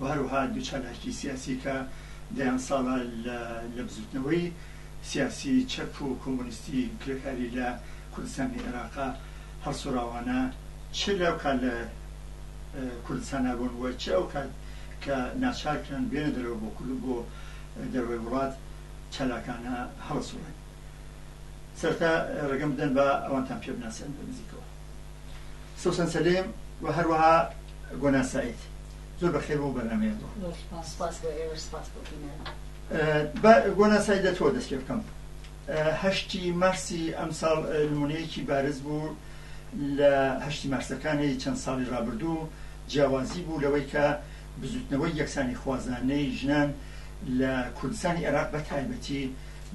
و هەروەها دوو چالاکی سیاسی کە دەیان ساڵە لە بزووتنەوەی سیاسی چەپ و کۆمۆنیستی کرێکاری لە کوردستانی عێراقا هەڵسوڕاوانە چ لەو کات لە کوردستانا بوون و چ ئەو کات کە ناچار کران بێنە دەرەوە بۆ کورد و بۆ دەرەوەی وڵات چالاکانە هەڵەسوڕێن. سەرەتا ڕێگەم بدەن با ئەوانتان پێ بناسێنم لە نزیکەوە. سوسەن سەلیم و هەروەها گۆنا سەعید زۆر بەخێر بۆ بەرنامەیان بۆ گۆنا سای لە تۆ دەست پێ بکەم هەشتی مارسی ئەمساڵ نمونەیەکی بارز بوو لە هەشتی مارسەکانی چەند ساڵی رابردوو جیاوازی بوو لەوەی کە بزوتنەوەی یەکسانی خوازانەی ژنان لە کوردستانی عێراق بە تایبەتی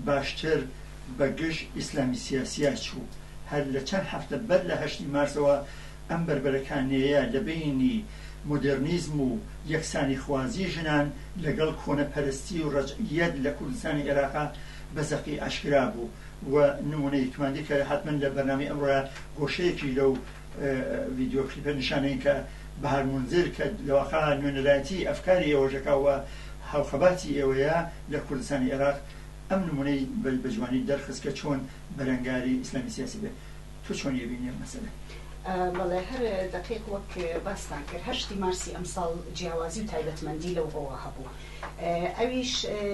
باشتر بە گژ ئیسلامی سیاسییا چوو. هەر لە چەند هەفتە بەر لە هەشتی مارسەوە ئەم بەربەرەکانێیە لە بەینی مۆدێڕنیزم و یەکسانیخوازی ژنان لە گەڵ کۆنەپەرستی و ڕەجعییەت لە کوردستانی عێراقا بە زەقی ئاشکرا بوو و نموونەیەکماندی کە حەتمەن لە بەرنامەی ئەمڕۆیا گۆشەیەکیش لەو ڤیدیۆ کلیپە نیشان نەین کە بەهار مونزر کە لەواقعا نوێنەرایەتی ئەفکاری ئێوەش دەکا و هاوخەباتی ئێوەیە لە کوردستانی عێراق ئەم نمونەی بە جوانی دەرخست کە چۆن بەرەنگاری ئیسلامی سیاسی بێت تۆ چۆن ئەبینی ئەم مەسەلە؟ بەڵێ هەر دەقیق وەک باستان کرد هەشتی مارسی ئەمساڵ جیاوازی و تایبەتمەندی لەو ڕۆوە هەبوو ئەویش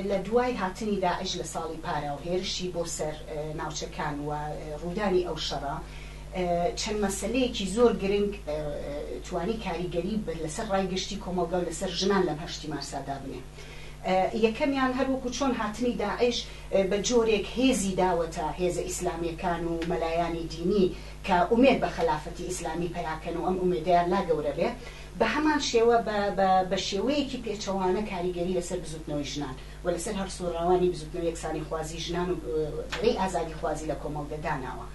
لە دوای هاتنی داعش لە ساڵی پارە و هێرشی بۆ سەر ناوچەکان و ڕوودانی ئەو شەڕە چەند مەسلەیەکی زۆر گرنگ توانی کاریگەری بەر لەسەر ڕای گشتی کۆمەڵگە و لەسەر ژنان لەم هەشتی مارسادا بنێ یەکەمیان هەر وەکو چۆن هاتنی داعش بە جۆرێک هێزی داوەتە هێزە ئیسلامیەکان و مەلایانی دینی کە ئومێد بە خەلافەتی ئیسلامی پەیاکەن و ئەم ئومێدەیان لا گەورە بێ بە هەمان شێوە بە بە بە شێوەیەکی پێچەوانە کاریگەری لەسەر بزوتنەوەی ژنان و لەسەر هەڵسوڕاوانی بزوتنەوەی یەکسانیخوازی ژنان و ری ئازادیخوازی لە کۆمەڵگە داناوە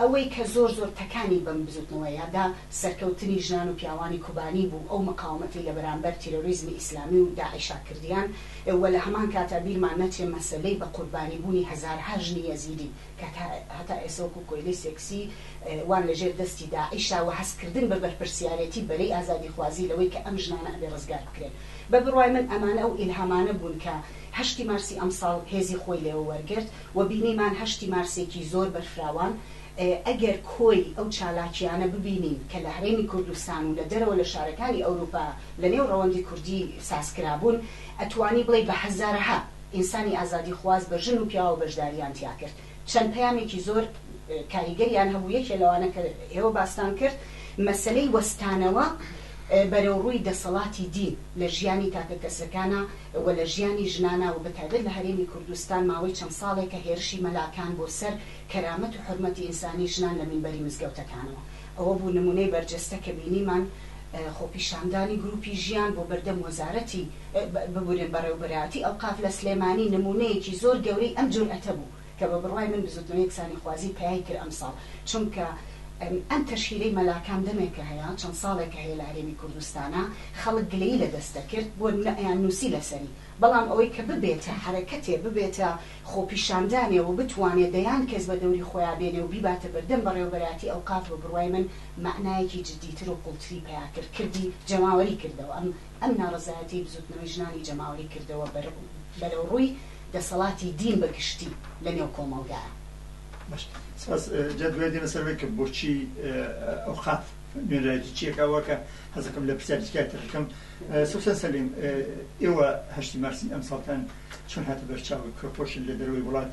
ئەوەی کە زۆر زۆر تەکانی بەم بزوتنەوەیە دا سەرکەوتنی ژنان و پیاوانی کوبانی بوو ئەو مقاومەتەی لە بەرامبەر تیرۆریزمی ئیسلامی و داعشا کردیان و لە هەمان کاتا بیرمان نەچێ مەسەلەی بە قوربانی بوونی هەزارها ژنی یەزیدی کە تا هەتا ئێسە وەکوو کۆیلەی سێکسی وان لە ژێر دەستی داعشا وە هەست کردن بە بەرپرسیارێتی بەرەی ئازادی خوازی لەوەی کە ئەم ژنانە ئەبێ ڕزگار بکرێن بە بڕوای من ئەمانە ئەو ئیلهامانە بوون کە هەشتی مارسی ئەمساڵ هێزی خۆی لێوە وەرگرت و بینیمان هەشتی مارسێکی زۆر بەرفراوان ئەگەر کۆی ئەو چالاکییانە ببینین کە لە هەرێمی کوردستان و لە دەرەوە لە شارەکانی ئەوروپا لە نێو ڕەوەندی کوردی ساز کرابوون، ئەتوانی بڵێی بە هەزارەها ئینسانی ئازادیخواز بە ژن و پیاوە بەشدارییان تیا کرد. چەند پەیامێکی زۆر کاریگەریان هەبوو، یەکێ لەوانە کە ئێوە باستان کرد، مەسەلەی وەستانەوە بەرەو ڕووی دەسەڵاتی دین لە ژیانی تاکەکەسەکانا و لە ژیانی ژنانا و بە تایبەت لە هەرێمی کوردستان ماوەی چەند ساڵێکە هێرشی مەلاکان بۆ سەر کەرامەت و حورمەتی ئینسانی ژنان لە مینبەری مزگەوتەکانەوە. ئەوە بوو نموونەی بەرجەستە کە بینیمان خۆپیشاندانی گرووپی ژیان بۆ بەردەم وەزارەتی، ببورن بەڕێوەبەرایەتی ئەوقاف لە سلێمانی نموونەیەکی زۆر گەورەی ئەم جورئەتە بوو کە بە بڕوای من بزووتنەوەی یەکسانیخوازی پەیای کرد ئەمساڵ چونکە ئەم تەشهیرەی مەلاکان دەمێکە هەیە چەند ساڵێکە هەیە لە هەرێمی کوردستانا خەڵک گلەیی لە دەست دەکرد بۆ نموونە ئەیاننووسی لەسەری بەڵام ئەوەی کە ببێتە حەرەکەتێ ببێتە خۆپیشاندانێ و بتوانێ دەیان کەس بە دەوری خۆیا بێنێ و بیباتە بەردەم بەڕێوەبەرایەتی ئەوقاف بە بڕوای من مەعنایەکی جدی تر و قوڵتری پەیا کرد کردی جەماوەری کردەوە ئەم ئەم ناڕەزایەتیەی بزوتنەوەی ژنانی جەماوەری کردەوە بەر بەرەوڕووی دەسەڵاتی دین بە گشتی لە نێو کۆمەڵگایە. باش سپاس جا دوای دێنە سەر وەی کە بۆچی ئەوقاف نوێنەرایەتی چیەک ئەوە کە حەزەکەم لە پرسیاری تکای تر بکەم سوسن سەلیم ئێوە هەشتی مارسی ئەمساڵتان چۆن هاتە بەر چاوی پرۆپۆشن لە دەرەوەی وڵات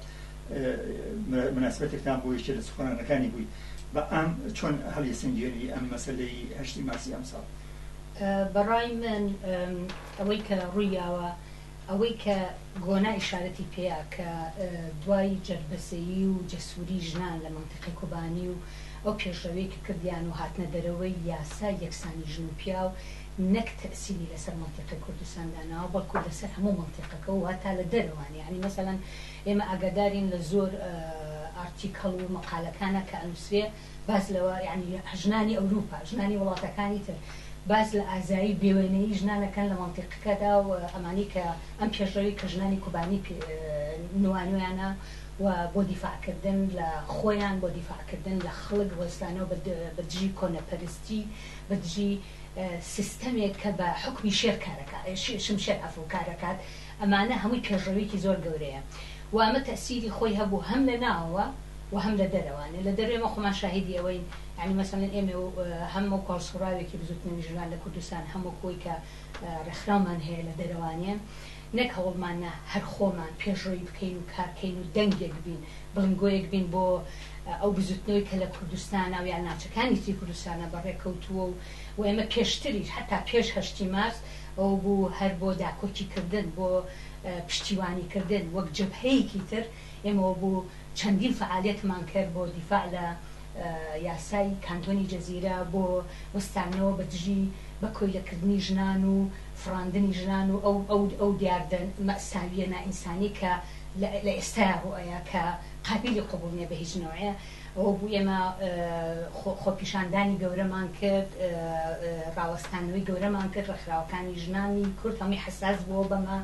مناسبەتێکتان بوو یەکێ لە سوخۆنانەکانی بووی بە ئام چۆن هەڵیسەنگێنی ئەم مەسەلەی هەشتی مارسی ئەمساڵ؟ بەڕای من ئەوەی کە ڕوویاوە ئەوەی کە گۆنا ئیشارەتی پێیە کە دوای جەربەزەیی و جەسووری ژنان لە مەنتیقی کوبانی و ئەو پێشڕەویەی کە کردیان و هاتنە دەرەوەی یاسای یەکسانی ژن و پیاو نەک تەئسیری لەسەر مەنتیقی کوردستان داناوە بەڵکو لەسەر هەموو مەنتیقەکە و هەتا لە دەرەوان یەعنی مەسەلەن ئێمە ئاگادارین لە زۆر ئارتیکەڵ و مەقالەکانا کە ئەنوسرێ باس لەوە یەعنی ژنانی ئەوروپا ژنانی وڵاتەکانی تر باس لە ئازایی بێوێنەیی ژنان ئەکەن لە مەنتیقەکەدا و ئەمانەی کە ئەم پێشڕەوی کە ژنانی کوبانی پێ نوانویانە و بۆ دیفاع کردن لە خۆیان بۆ دیفاع کردن لە خەڵک وەستانەوە بە دژی کۆنەپەرستی بە دژی سیستەمێک کە بە حوکمی شێر کارەکات شمشێر عەفو کارەکات ئەمانە هەمووی پێشڕەویەکی زۆر گەورەیە و ئەمە تەئسیری خۆی هەبوو هەم لە ناوەوە و هەم لە دەرەوە یانی لە دەرەوەی ئێمە خۆمان شاهیدی ئەوەین یانی مەسەلەن ئێمە و هەم وەکو هەڵسوڕاوێکی بزوتنەوی ژنان لە کوردستان هەم وەکو ئەوەی کە ڕێکخراومان هەیە لە دەرەوە یانی نەک هەوڵمان نا هەر خۆمان پێشڕەوی بکەین و کار کەین و دەنگێک بین بڵنگۆیەک بین بۆ ئەو بزوتنەوەی کە لە کوردستانە و یا ناوچەکانی تری کوردستانە بە ڕێ کەوتووە و و ئێمە پێشتریش حەتا پێش هەشتی مارس ئەوە بوو هەر بۆ داکۆکی کردن بۆ پشتیوانی کردن وەک جەبهەیەکی تر ئێمە وەکو چەندین فەعالیەتمان کرد بۆ دیفاع لە یاسای کانتۆنی جزیرە بۆ وەستانەوە بە دژی بە کۆیلە کردنی ژنان و فڕاندنی ژنان و ئەو ئەو دیاردە مەئساویە نائینسانی کە لە ئێستایا ڕوئەیا کە قابیلی قبوڵ نیە بە هیچ نەوعێ ئەوە بوو ئێمە خۆ خۆپیشاندانی گەورەمان کرد ڕاوەستانەوەی گەورەمان کرد ڕێکخراوەکانی ژنانی کورد هەمووی حەساس بووە بەمە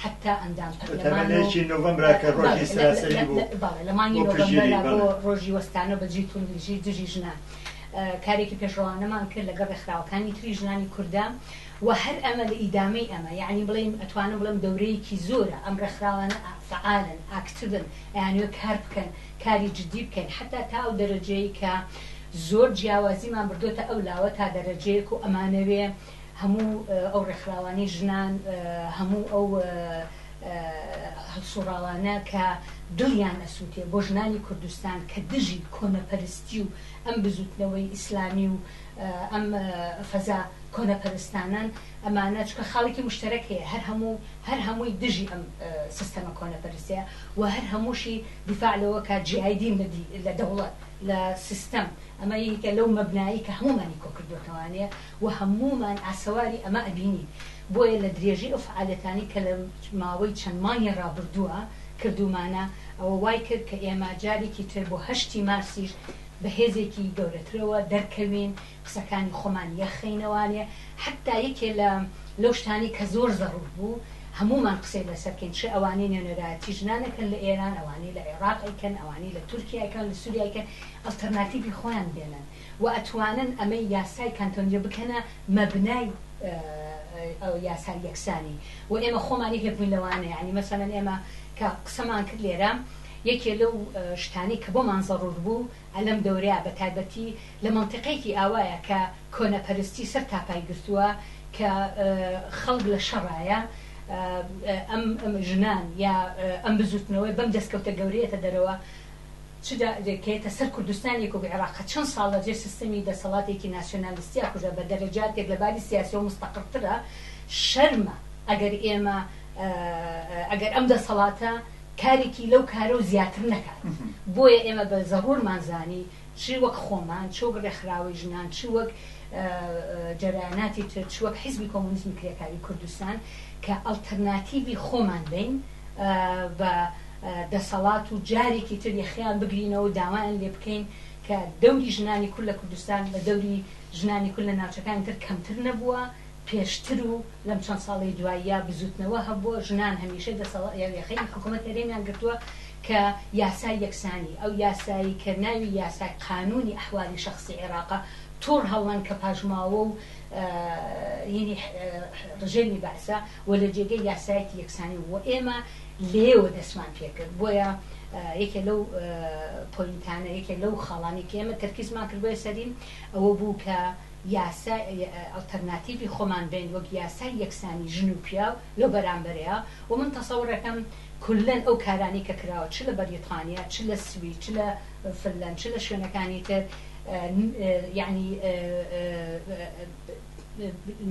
حەتتا ئەندام پەرلەمان و تەمەنێکی نۆڤەمبرە کە ڕۆژی سەراسەری بوو بەڵێ لە مانگی بۆ پشتگیری نۆڤەمبرە بەڵێ بۆ ڕۆژی وەستانەوە بە جلی توندوتیژی دژی ژنان کارێکی پێشڕەوانەمان کرد لەگەڵ ڕێکخراوەکانی تری ژنانی کوردا و هەر ئەمە لە ئیدامەی ئەمە یعنی بڵێم ئەتوانم بڵێم دەورەیەکی زۆرە ئەم ڕێکخراوانە ئا فعالن ئاکتڤن ئەیانەوێت کار بکەن کاری جدی بکەین حەتتا تا ئەو دەرەجەیەی کە زۆر جیاوازیمان بردۆتە ئەو لاوە تا دەرەجەیەک و ئەمانەوێ هەموو ئەو ڕێکخراوانەی ژنان، هەموو ئەو هەڵسوڕاوانە کە دڵیان ئەسوتێ بۆ ژنانی کوردستان کە دژی کۆنەپەرستی و ئەم بزوتنەوەی ئیسلامی و ئەم فەزا کۆنەپەرستانەن ئەمانە چونکە خاڵێکی مشتەرەک هەیە هەر هەموو هەر هەمووی دژی ئەم سیستەمە کۆنەپەرستەیە و هەر هەمووشی دیفاع لەوە کە جیای دین لە دی لە دەوڵەت لە سیستەم ئەمە یەکێکە لەو مەبنایەی کە هەموومانی کۆکردۆتەوانێ. وە هەموومان ئاسەواری ئەمە ئەبینین بۆیە لە درێژەی ئەو فەعالیەتانەی کە لە ماوەی چەند مانگی ڕابردووە کردوومانە ئەوە وای کرد کە ئێمە جارێکی تر بۆ هەشتی مارسیش بە هێزێکی گەورەترەوە دەرکەوین قسەکانی خۆمان یەخەینەوانێ حەتا یەکێ لە لەو شتانەی کە زۆر زەڕوور بوو هەموومان قسەی لەسەر کەین چ ئەوانەی نوێنەرایەتی ژنان ئەکەن لە ئێران ئەوانەی لە عێڕاق ئەیکەن ئەوانەی لە تورکیا ئەکەن لە سوریا ئەیکەن ئەڵتەرناتیڤی خۆیان بێنن وە ئەتوانن ئەمەی یاسای کانتۆنیە بکەنە مەبنای ئەو یاسای یەکسانی وە ئێمە خۆمانی هێبوین لەوانە یانی مەسەلەن ئێمە کە قسەمان کرد لێرە یەکێ لەو شتانەی کە بۆمان زەڕوور بوو ئەلەم دەورەیا بە تایبەتی لە مەنتیقێکی ئاوایە کە کۆنە پەرستی سەر تاپای گرتووە کە خەڵک لە شەڕایە ئەم ژنان یا ئەم بزووتنەوەی بەم دەسکەوتە گەورەیەتە دەرەوە چ دە کە تە سەر کوردستان ێک و گە عێراقە چەند ساڵ لە جێ سستمی دە سەڵاتێکی ناسیۆنالیستیا کوژە بە دە رە جا تێک لە باری سیاسی و مستقر ترە شەرمە ئەگەر ئێمە ئەگەر ئەم دە سەڵاتە کارێکی لەو کارە و زیاتر نەکات بۆیە ئێمە بە زە رورمان زانی چ وەک خۆمان چ وەک رێکخراوەی ژنان چ وەک جەرایاناتی تر چ وەک حیزبی کۆمۆنیزمی کرێکاری کوردستان کە ئەڵتەرناتیڤی خۆمان بین بە دەسەڵات و جارێکی تر یەخەیان بگرینەوە و داوایان لێ بکەین کە دەوری ژنانی کورد لە کوردستان لە دەوری ژنانی کورد لە ناوچەکانی تر کەمتر نەبووە، پێشتر و لەم چەند ساڵەی دواییە بزووتنەوە هەبووە، ژنان هەمیشە دەسەڵات یا یەخەی حکوومەت هەرێمیان گرتووە کە یاسای یەکسانی، ئەو یاسایەی کە ناوی یاسای قانونی احوال شخصی عێراقە، توڕ هەڵەن کە پاشماوە و ینی ڕژێمی بەعسە. و لە جێگەی یاسایەکی یەکسانی بوو و ئێمە لێیەوە دەستمان پێ کرد، بۆیە یەکێ لەو پۆینتانە، یەکێ لەو خاڵانەی کە ئێمە تەرکیزمان کردبوویە سەری، ئەوە بوو کە یاسای ئەڵتەرناتیڤی خۆمان بێنین وەک یاسای یەکسانی ژن و پیاو لەو بەرامبەرەیا و من تەسەوڕ ئەکەم کوللەن ئەو کارانەی کە کراوە چ لە بەریتانیا، چ لە سوید، چ لە فنلەند، چ لە شوێنەکانی تر، یەعنی.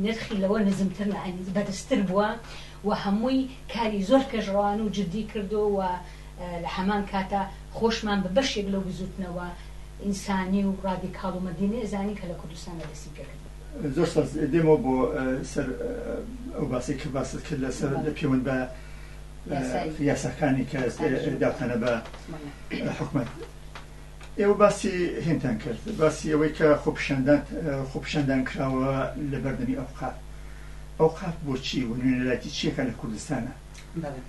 نرخی لەوە نزمتر لەعنی بەرزتر بووە و هەمووی کاری زۆر پێشڕەوانە و جدی کردووە و لە هەمان کاتا خۆشمان بە بەشێک لەو بزووتنەوە ئینسانی و ڕادیکاڵ و مەدینەیە زانی کە لە کوردستاندا دەستی پێ کردووە. زۆر سپاس. دێمەوە بۆ سەر ئەو باسەی کە باست کرد لە سەر لە پێوەند بە یاساکانی کە داوتانە بە حکومەت. ئێوە باسی هێنتان کرد، باسی ئەوەی کە خۆپیشاندان خۆپیشاندان کراوە لە بەردەمی ئەوقاف، ئەوقاف بۆ چی و نوێنەرایەتی چیەکە لە کوردستانا؟ بەڵێ.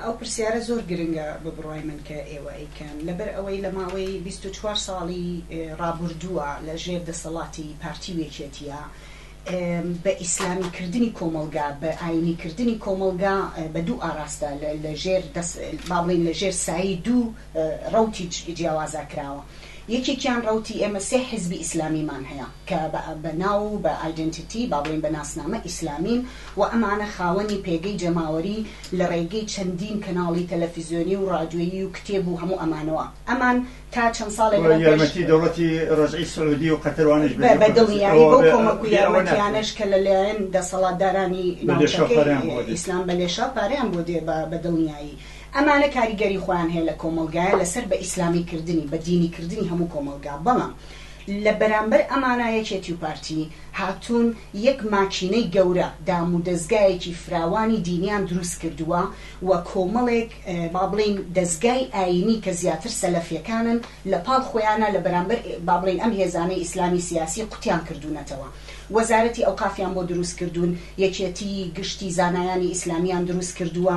ئەو پرسیارە زۆر گرنگە بە بڕوای من کە ئێوە ئەیکەن، لەبەر ئەوەی لە ماوەی بیست و چوار ساڵی ڕابوردووە لە ژێر دەسەڵاتی پارتی و یەکێتیە بە ئیسلامی کردنی کۆمەڵگا، بە ئاینی کردنی کۆمەڵگا بە دوو ئاراستە لە ژێر دەس با بڵێین لە ژێر سایەی دوو ڕەوتی جیاوازا کراوە یەکێکیان ڕەوتی ئێمە سێ حیزبی ئیسلامیمان هەیە کە بە ناو و بە ئایدێنتیتی با بڵێین بە ناسنامە ئیسلامین و ئەمانە خاوەنی پێگەی جەماوەری لە ڕێگەی چەندین کەناڵی تەلەفیزیۆنی و ڕادیۆیی و کتێب و هەموو ئەمانەوە ئەمان تا چەند ساڵێک لەمەو پێش یارمەتی دەوڵەتی ڕەجعی سعودی و قەتەر وانەش بە بە دڵنیایی بەو کۆمەک و یارمەتیانەش کە لە لایەن دەسەڵاتدارانی ناوچەکەی ئیسلام بە لێشاو پارەیان بۆ دێ بە دڵنیایی. ئەمانە کاریگەری خۆیان هەیە لە کۆمەڵگایە لەسەر بە ئیسلامی کردنی، بە دینی کردنی هەموو کۆمەڵگا، بەڵام لە بەرامبەر ئەمانە یەکێتی و پارتی هاتوون یەک ماکینەی گەورە دام و دەزگایەکی فراوانی دینیان دروست کردووە و کۆمەڵێک با بڵێین دەزگای ئایینی کە زیاتر سەلەفیەکانن لە پاڵ خۆیانا لە بەرامبەر با بڵێین ئەم هێزانەی ئیسلامی سیاسی قوتیان کردوونەتەوە وەزارەتی ئەوقافیان بۆ دروست کردوون یەکێتی گشتی زانایانی ئیسلامیان دروست کردووە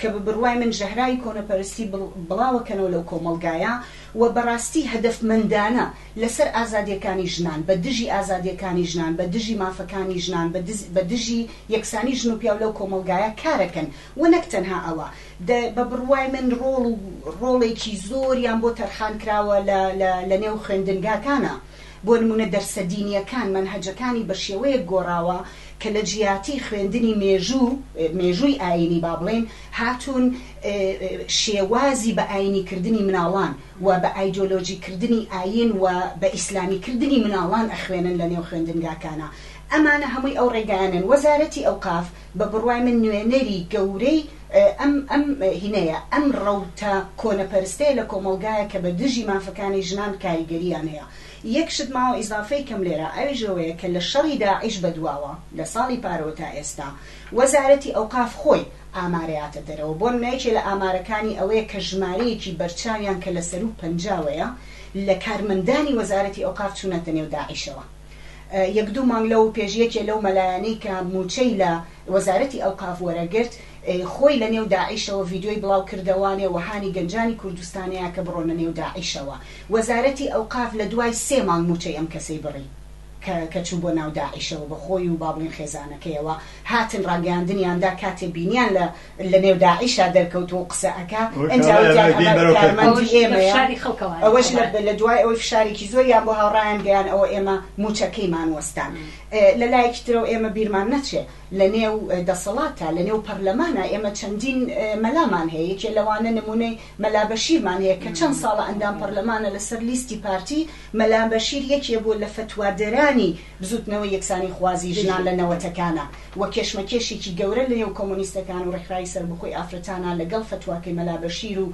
کە بە بڕوای من ژەهراوی کۆنەپەرستی بڵاوەکەنەوە لەو کۆمەڵگایە و بەڕاستی هەدەفمەندانە لەسەر ئازادییەکانی ژنان، بە دژی ئازادییەکانی ژنان، بە دژی مافەکانی ژنان، بە دژی یەکسانی ژن و پیاو لەو کۆمەڵگایە کارەکەن و نەک تەنها ئەوە، بە بڕوای من ڕۆڵ و ڕۆڵێکی زۆریان بۆ تەرخان کراوە لە نێو خوێندنگاکانا. بۆ نموونە دەرسە دینییەکان مەنهەجەکانی بە شێوەیەک گۆڕاوە کە لە جیاتی خوێندنی مێژوو، مێژووی ئایینی با بڵێین، هاتوون شێوازی بە ئایینی کردنی مناڵان و بە ئایدۆلۆژی کردنی ئایین و بە ئیسلامی کردنی مناڵان ئەخوێنن لە نێو خوێندنگاکانا ئەمانە هەمووی ئەو ڕێگایانەن وەزارەتی ئەوقاف بە بڕوای من نوێنەری گەورەی ئەم ئەم هینەیە، ئەم ڕەوتە کۆنەپەرستەیە لە کۆمەڵگایەک کە بە دژی مافەکانی ژنان کاریگەرییان هەیە. یەک شت ماوە ئیزافەی کەم لێرە، ئەویش ئەوەیە کە لە شەڕی داعش بە دواوە، لە ساڵی پارەوە تا ئێستا، وەزارەتی ئەوقاف خۆی ئامارەیاتە دەرەوە. بۆ نمونە یەکێ لە ئامارەکانی ئەوەیە کە ژمارەیەکی بەرچاویان کە لە سەروو پەنجاوەیە لە کارمەندانی وەزارەتی ئەوقاف چوونەتە نێو داعشەوە. یەک دوو مانگ لەو پێش یەکێ لەو مەلایانەی کە مووچەی لە وەزارەتی ئەوقاف وەرەگرت خۆی لە نێو داعیشەوە ڤیدیۆی بڵاو کردەوانێ و هانی گەنجانی کوردستانەیا کە بڕۆنە نێو داعیشەوە وەزارەتی ئەوقاف لە دوای سێ مانگ مووچەی ئەم کەسەی بڕی کە کە چوو بۆ ناو داعیشەوە بە خۆی و با بڵێین خێزانەکەیەوە هاتن ڕاگەیاندنیان دا کاتێ بینیان لە لەنێو داعشا دەرکەوت و قسە ئەکا ئنجا وتیان ئەمە کارمەندی ئێمەیە ئەوەش لەدوای ئەوەی فشارێکی زۆریان بۆ هاوڕایان گەیان ئەوە ئێمە مووچەکەیمان وەستان لەلایەکی ترەوە ئێمە بیرمان نەچێ لەنێو دەسەڵاتە لەنێو پەرلەمانە ئێمە چەندین مەلامان هەیە یەکێ لەوانە نمونەی مەلا بەشیرمان هەیە کە چەند ساڵە ئەندام پەرلەمانە لەسەر لیستی پارتی مەلا بەشیر یەکێ بۆ لە فتوادەرانی بزوتنەوەی یەکسانی خوازی ژنان لە نەوەتەکانا و کێشمەکێشێکی گەورە لە نێو کۆمۆنیستەکان و ڕێکخراوی سەربەخۆی ئافرەتانا لە گەڵ فەتواکەی مەلا بەشیر و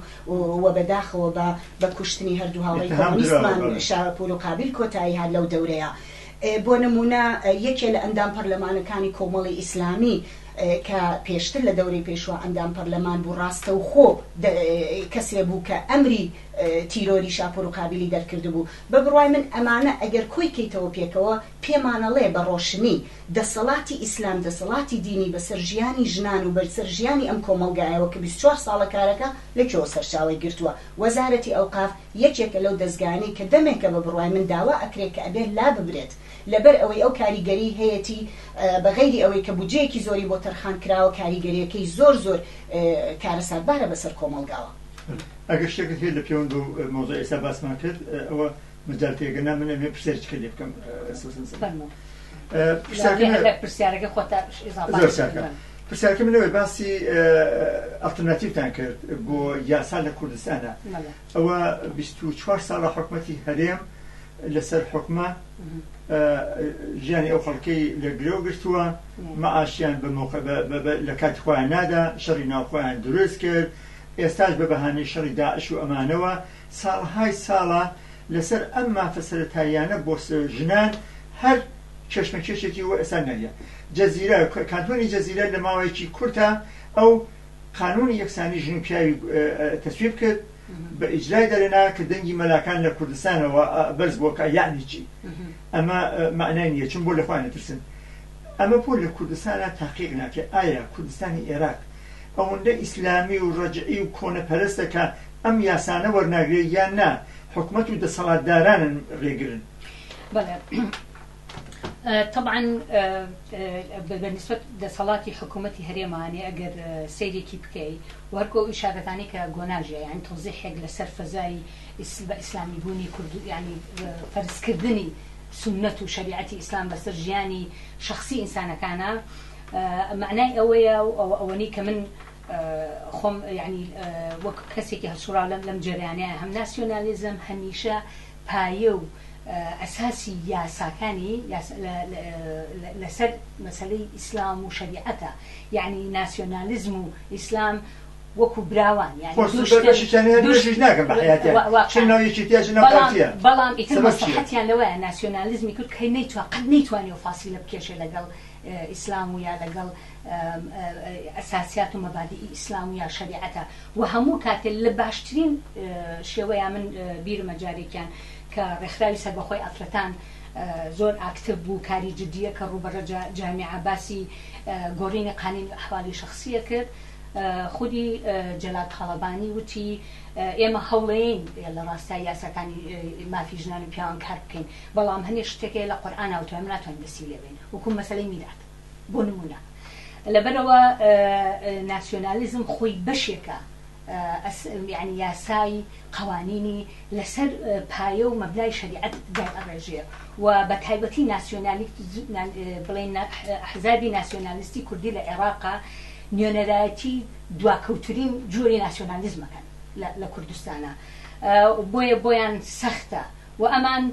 و بەداخەوە بە بە کوشتنی هەردوو هاوڕێی کۆمۆنیستمان شاپور و قابیل کۆتایی هات لەو دەورەیا بۆ نمونە یەکێ لە ئەندام پەرلەمانەکانی کۆمەڵی ئیسلامی کە پێشتر لە دەورەی پێشوا ئەندام پەرلەمان بوو ڕاستەوخۆ کەسێ بوو کە ئەمری تیرۆری شاپور و قابیلی دەرکردبوو بە بڕوای من ئەمانە ئەگەر کۆی کەیتەوە پێکەوە پێمانەڵێ بە ڕۆشنی دەسەڵاتی ئیسلام دەسەڵاتی دینی بەسەر ژیانی ژنان و بەرسەر ژیانی ئەم کۆمەڵگایەوە کە بیست چوار ساڵە کارەکە لە کوێوە سەرچاوەی گرتووە وەزارەتی ئەوقاف یەکێکە لەو دەزگانەی کە دەمێکە بە بڕوای من داوا ئەکرێ کە ئەبێ لاببرێت لەبەر ئەوەی ئەو کاریگەری هەیەتی بە غەیری ئەوەی کە بودجەیەکی زۆری بۆ تەرخان کراوە کاریگەریەکەی زۆر زۆر کارەساتبارە بەسەر کۆمەڵگاوە. ئەگەر شتێکت هەیە لە پێوەند بەو مەوزوعەی ئێستا باسمان کرد ئەوە مجالت هەیە، گەرنا من ئەمەوێ پرسیارێکی تر لێ بکەم ئەستەوسم سەر فەرموو پرسیارەکەی من لە پرسیارەکەی خۆتا ئیزافە زۆر چاکە بکەم. پرسیارەکەی من ئەوەیە باسی ئە، ئەڵتەرناتیڤتان کرد بۆ یاسا لە کوردستانا بەڵێ ئەوە بیست و چوار ساڵە حکومەتی هەرێم لەسەر حوکمە ئە، ژیانی ئەو خەڵکەی لە گرەو گرتووە مەعاشیان بە مەوقە بە بە بە لە کاتی خۆیان نادا شەڕی ناو خۆیان دروست کرد ئێستاش بە بەهانەی شەڕی داعش و ئەمانەوە ساڵەهای ساڵە لەسەر ئەم مافە سەرەتاییانە بۆ ژنان هەر کێشمەکێشێکی بۆ ئێستا نەریە جەزیرە کانتۆنی جەزیرە لە ماوەیەکی کورتە ئەو قانونی یەکسانی ژن و پیاوی تەسویب کرد بە ئیجرای دەرێنا کە دەنگی مەلاکان لە کوردستانەوە بەرز بۆکە یعنی چی ئەمە معنای نیە چون بۆ لەخوای نەترسن ئەمە بۆ لە کوردستانە تاقیق ناکە ئایا کوردستانی ئێراق ئەوەندە ئیسلامی و ڕەجعی و کۆنەپەرستە کە ئەم یاسانە وەرناگرێ یان نا حکومەت و دەسەڵاتدارانن ڕێگرن. بەڵێ طبعاً بە نسبەت دەسەڵاتی حکوومەتی هەرێمانێ ئەگەر سیرێکی بکەی وەرکۆ ئەو شارەکانی کە گۆناژە یان تۆزیحێک لەسەر فەزای بە ئیسلامی بوونی کوردو ینی فەرزکردنی سنت و شریعەتی ئیسلام بەسەر ژیانی شخصی ئینسانەکانە مەعنای ئەوەیە و ئەوەنەی کە من خۆم یانی وەک کەسێکی هەڵسوڕاو لەم لەم جەریانەیە هەم ناسیۆنالیزم هەمیشە پایە و ئەساسی یاساکانی لەسەر مەسەلەی ئیسلام و شەریعەتە یانی ناسیۆنالیزم و ئیسلام وەکو براوان یانی دووشتێژ ناکەم بە حیاتیان چ ناو یەکێتیە چ ناو پارتیە بەڵام ئیتر مەسەحەتیان لەوەیە ناسیۆنالیزمی کورد کەی نەیتوە قەت نەیتوانێ و فاسیلە بکێشێ لەگەڵ ئیسلام و یا لەگەڵ ئەساسیات و مەبادیئی ئیسلام و یا شەریعەتە و هەموو کاتێ لە باشترین شێوەیا من بیرمە جارێکیان کە ڕێکخراوی سەربەخۆی ئافرەتان زۆر ئاکتڤ بوو کاری جدیە کە ڕووبەڕە جامیعە باسی گۆڕینی قانینی ئەحوالی شەخسیە کرد خودی جەلال تاڵەبانی وتی ئێمە هەوڵەیەین لە ڕاستای یاساکانی مافی ژنان و پیاوان کار بکەین بەڵام هەنێ شتێک هەیە لە قورئاناوتوە ئێمە ناتوانین دەستی لێ بێین وەکو مەسەلەی میرات بۆ نموونە. لەبەرئەوە ناسیۆنالیزم خۆی بەشێکە یانی یاسای قەوانینی لەسەر پایە و مەبنای شەریعەت دایئەڕێژێ و بە تایبەتی بڵێین ئەحزابی ناسیۆنالیستی کوردی لە عێڕاقا نوێنەرایەتی دواکەوترین جۆری ناسیۆنالیزمەکەن لە کوردستانا بۆیە بۆیان سەختە وە ئەمان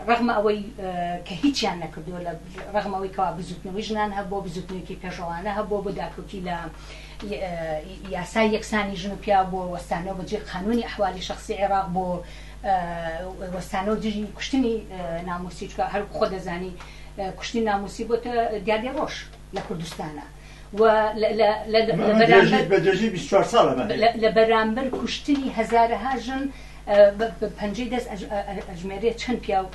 ڕەغمە ئەوەی کە هیچیان نەکردووە لە ڕەغمە ئەوەی کەوا بزوتنەوەی ژنان هەبووە بزوتنەوەیکی پێشڕەوانە هەبووە بۆ داکەوتی لە یاسای یەکسانی ژن و پیاو بۆ وەستانەوە بە جێ قانونی ئەحوالی شخصی عێراق بۆ وەستانەوە دژی کوشتنی ناموسی چکە هەر خۆ دەزانی کوشتنی ناموسی بۆتە دیاردەی ڕۆژ لە کوردستانە. لە بەرامبەر کوشتنی هەزارەها ژن پەنجەی دەست ئەژمێرێ چەند پیا و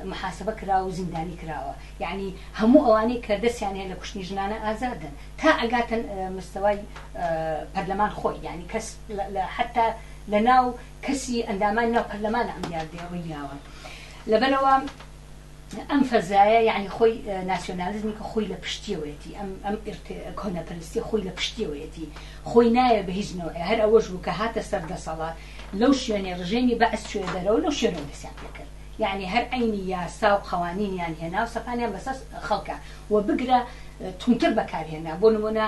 محاسبە کرا و زیندانی کراوە یعنی هەموو ئەوانەی کە دەستیان هەیە لە کوشتنی ژنانە ئازادن تا ئەگاتن مستەوای پەرلەمان خۆی یعنی کەس حتا لە ناو کەسی ئەندامان ناو پەرلەمانە ئەم دیاردەیە ڕوویاوە لەبەرەوە ئەم فەزایە یەعنی خۆی ناسیۆنالیزمی کە خۆی لە پشتیەوەیەتی ئەم ئەم ئیرت کۆنەپەرستی خۆی لە پشتیەوەیەتی خۆی نایە بە هیچ نەوعێ هەر ئەوەش بوو کە هاتە سەر دەسەڵات لەو شوێنێ ڕژێمی بەعس چووە دەرەوە لەو شوێنەوە دەسیان پێ کرد یەعنی هەر عەینی یاسا و قەوانینیان هێنا و سەپانیان بەسەر خەڵکا و بگرە توندتر بەکارهێنا بۆ نموونە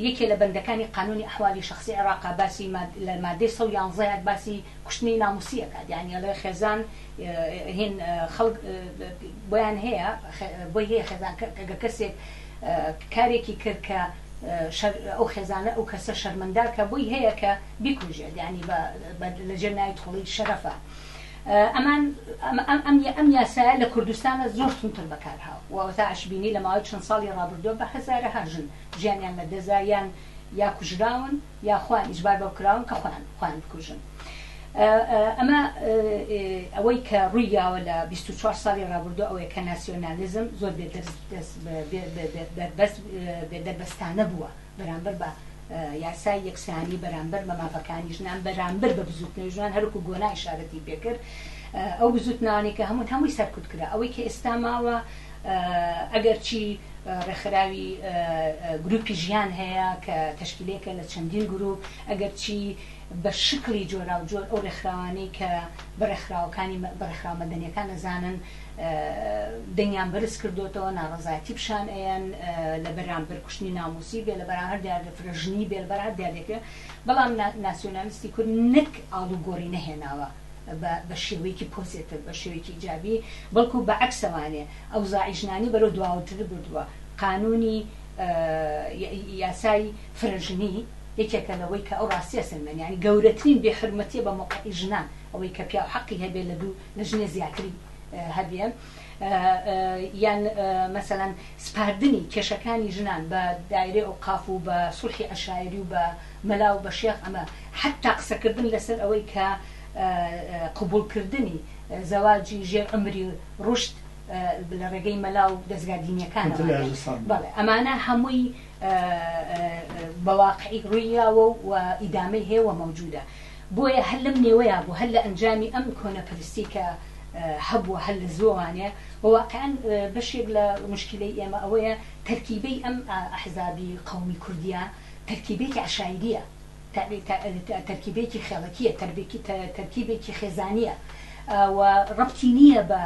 یەکێ لە بەندەکانی قانونی ئەحوالی شەخسی عێڕاقا باسی ماد لە مادەی سەد و یانزە باسی کوشتنی نامووسی ئەکات یەعنی ئەڵێ خێزان هین خەڵک بۆیان هەیە بۆی هەیە خێزان کە کەسێک کارێکی کرد کە ئەو خێزانە ئەو کەسە شەرمەندار کە بۆی هەیە کە بیکوژێت ینی لە جێ نای تۆڵی شەرەفە ئەمان ئەم یاسایە لە کوردستانە زۆر تونتر بەکارهاو وەتا ئەشببینی لە ماوەی چەند ساڵی ڕابردووە بە هەزارە هاژن ژیانیان لە دەزایان یا کوژراون یاخوا ئیجبار بەو کراون کە خۆیان خۆیان بکوژن ئەمە ئەوەی کە ڕووی یاوە لە بیست و چوار ساڵی ڕابردوو ئەوەیە کە ناسیۆنالیزم زۆر بێ دەرس دەس بە بێ بێ بێ بەربەست بێ دەربەستانە بووە بەرامبەر بە یاسای یەکسانی بەرامبەر بە مافەکانی ژنان بەرامبەر بە بزووتنەوەی ژنان هەروەکو گۆنا ئیشارەتی پێکرد ئەو بزووتنانێکە هەموون هەمووی سەرکوت کرا ئەوەی کە ئێستا ماوە ئەگەرچی ڕێکخراوی گروپی ژیان هەیە کە تەشکیلێکە لە چەندین گروپ، ئەگەرچی بە شکڵی جۆراوجۆر ئەو ڕێکخراوانەی کە بە ڕێکخراوەکانی بە ڕێکخراوە مەدەنیەکان ئەزانن دەنگیان بەرز کردۆتەوە ناڕەزایەتی پیشان ئەیەن لە بەرامبەر کوشتنی ناموسی بێ لە بەرامبەر دیاردە فرەژنی بێ لە بەرامبەر دیاردەکە بەڵام ناسیۆنالیستی کورد نەک ئاڵوگۆری نەهێناوە بە بە شێوەیەکی پۆزێتڤ، بە شێوەیەکی ئیجابی، بەڵکو بە عەکسەوانێ ئەوزاعی ژنانی بەرەو دواوتر بردووە. قانوونی، یاسای فرە ژنی، یەکێکە لەوەی کە ئەو ڕاستییە سەلمێنێ. یانی گەورەترین بێ حورمەتییە بە مەوقعی ژنان ئەوەی کە پیاو حەقی هەبێ لە دوو لە ژنێ زیاتری هەبێ. یان مەسەلەن سپاردنی کێشەکانی ژنان بە دایرەی ئەوقاف و بە سوڵحی عەشایری و بە. مەلا و بە شێخ ئەمە حەتتا قسەکردن لەسەر ئەوەی کە قبوڵ کردنی زەواجی ژێر عومری ڕوشد لە ڕێگەی مەلا و دەزگا دینیەکان بەڵێ ئەمانە هەمووی بەواقعی ڕوویاوە و ئیدامەی هەیە و مەوجودە بۆیە هەر لەم نێوەیە بوو هەر لە ئەنجامی ئەم کۆنەپەرستی کە هەبووە هەر لە زۆوانێ وواقعان بەشێک لە مشکلی ئێمە ئەوەیە تەرکیبەی ئەم ئەحزابی قومی کوردیا تەرکیبێکی عەشایرییە، تەرکیبێکی خێڵەکییە، تەرکیبێکی خێزانییە و ڕەبتی نییە بە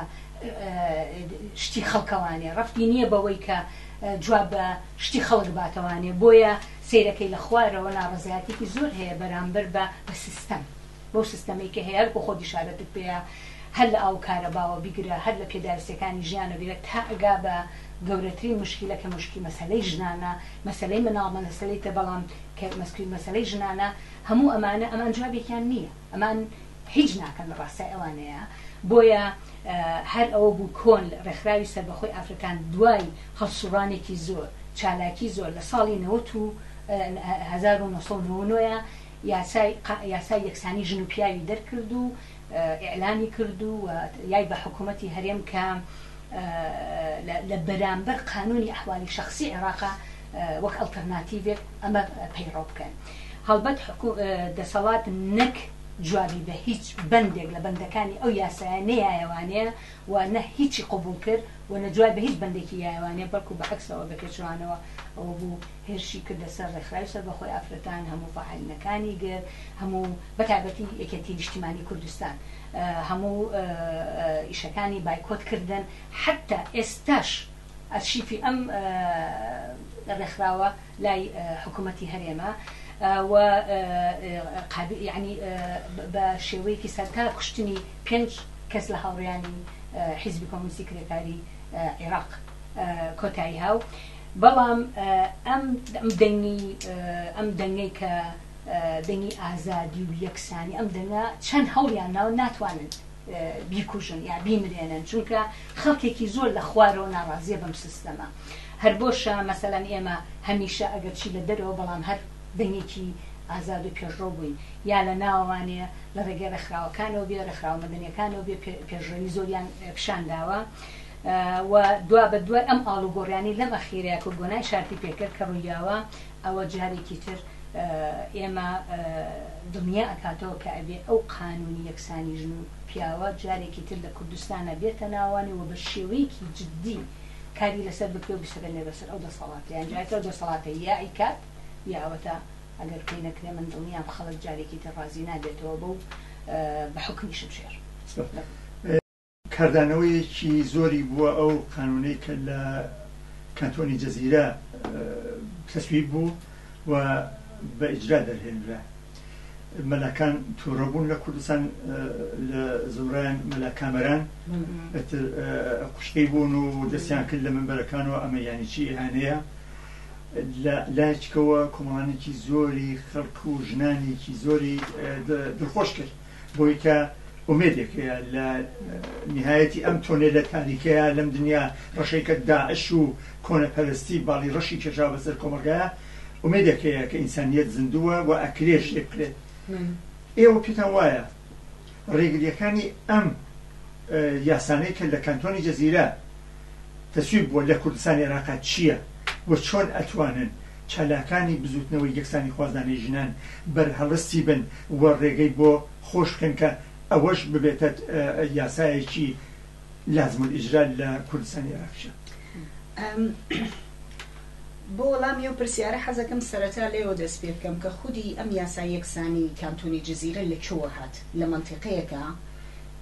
شتی خەڵکەوانێ، ڕەبتی نییە بەوەی کە جواب بە شتی خەڵک باتەوانێ، بۆیە سەیرەکەی لە خوارەوە ناڕەزایەتییەکی زۆر هەیە بەرامبەر بە سیستەم. بەو سیستەمەی کە هەیە هەرکو خۆت دشارەتت پێیە هەر لە ئاوو کارەباوە بیگرە هەر لە پێداویستیەکانی ژیانە بیگرە تا ئەگا بە گەورەترین مشکیلە کە مشکی مەسەلەی ژنانە مەسەلەی مناڵ مەسەلەی تر بەڵام کە مەسکی مەسەلەی ژنانە هەموو ئەمانە ئەمان جوابێکیان نییە ئەمان هیچ ناکەن لە ڕاستای ئەوانەیە بۆیە هەر ئەوە بوو کۆن ڕێکخراوی سەربەخۆی ئافرەتان دوای هەڵسوڕانێکی زۆر چالاکی زۆر لە ساڵی نەوەت و هەزار و نۆ سەد و نەوەت و نۆ یاسای یاسای یەکسانی ژن و پیاوی دەرکرد و ئیعلامی کرد و یای بە حکوومەتی هەرێم کە لە بەرامبەر قانوونی ئەحوالی شەخسی عێراقە وەک ئەڵتەرناتیڤێک ئەمە پەیڕەو بکەن. هەڵبەت دەسەڵات نەک جوابی بە هیچ بەندێک لە بەندەکانی ئەو یاسایە نەیایەوانێ و نە هیچی قبووڵ کرد و نە جوای بە هیچ بەندێکی یایەوانێ بەڵکوو بە عەکسەوە بە پێچەوانەوە ئەوە بوو هێرشی کردە سەر ڕێکخراوی سەربەخۆی ئافرەتان، هەموو فەعالینەکانی گرت، هەموو بە تایبەتی یەکێتی نیشتیمانی کوردستان هەموو ئیشەکانی بایکۆت کردن، حەتتا ئێستاش ئەرشیفی ئەم ڕێکخراوە لای حکوومەتی هەرێمە و یانی بە شێوەیەکی سەرتا کوشتنی پێنج کەس لە هاوڕێیانی حیزبی کۆمۆنیستی کرێکاری عێراق کۆتاییهاو. بەڵام ئەم دەنگی ئەم دەنگەی کە دەنگی ئازادی و یەکسانی ئەم دەنگە چەند هەوڵیان ناو ناتوانن بیکوژن یا بیمرێنن چونکە خەڵکێکی زۆر لە خوارەوە ناڕازیە بەم سیستەمە هەر بۆشە مەسەلەن ئێمە هەمیشە ئەگەر چی لە دەرەوە بەڵام هەر دەنگێکی ئازاد و پێشڕەو بووین یا لە ناوانێ لە ڕێگەی ڕێکخراوەکانەوە بێ ڕێکخراوە مەدەنیەکانەوە بێ پێشڕەوی زۆریان پیشان داوە و دوابەدوای ئەم ئاڵوگۆڕیانەی لەم ئەخیرەیە کۆگۆنای شارپی پێکرد کە ڕوویاوە، ئەوە جارێکی تر ئێمە دڵنیا ئەکاتەوە کە ئەبێ ئەو قانوونی یەکسانی ژن و پیاوە جارێکی تر لە کوردستانا بێتە ناوەوانی و بە شێوەیەکی جدی کاری لەسەر بکرێ و بسەپێنرێ بەسەر ئەو دەسەڵاتە یان جارێکی تر ئەو دەسەڵاتە یا ئەیکات یا ئەوەتا ئەگەر پێی نەکرێ من دڵنیام خەڵک جارێکی تر ڕازی نابێتەوە بەو بە حوکمی شمشێر. کاردانەوەیەکی زۆری بووە ئەو قانوونەی کە لە کانتۆنی جزیرە تەسویب بوو و بە ئیجرا دەرهێنرا مەلاکان تووڕە بوون لە کوردستان لە زۆران مەلا کامەران ئەتر قوشتەی بوون و دەستیان کرد لە منبەرەکان و ئەمە یانی چی ئیهانەیە لە لایچکەوە کۆمەڵانێکی زۆری خەڵک و ژنانێکی زۆری دڵخۆش کرد بۆی کە ئومێدێک هەیە لە نیهایەتی ئەم تۆنێلە تاریکەیە لەم دنیا ڕەشەی کە داعش و کۆنەپەرستی باڵی ڕەشی کێشا بەسەر کۆمەڵگایە ئومێدێک هەیە کە ئینسانیەت زیندووە و ئەکرێ شتێک بکرێت ئێوە پێتان وایە ڕێگریەکانی ئەم یاسانەی کە لە کانتۆنی جەزیرە تەسویب بووە لە کوردستانی عێراقا چییە و چۆن ئەتوانن چالاکانی بزوتنەوەی یەکسانی خوازانەی ژنان بەرهەڵستی بن و ڕێگەی بۆ خۆش بکەن کە ئەوەش ببێتە یاسایەکی لازم الاجرا لە کوردستانی عێراقیشە. بۆ وەڵامی ئەو پرسیارە حەزەکەم سەرەتا لەوێوە دەست پێ بکەم کە خودی ئەم یاسای یەکسانی کانتۆنی جزیرە لە کوێوە هات، لە مەنتیقەیەکە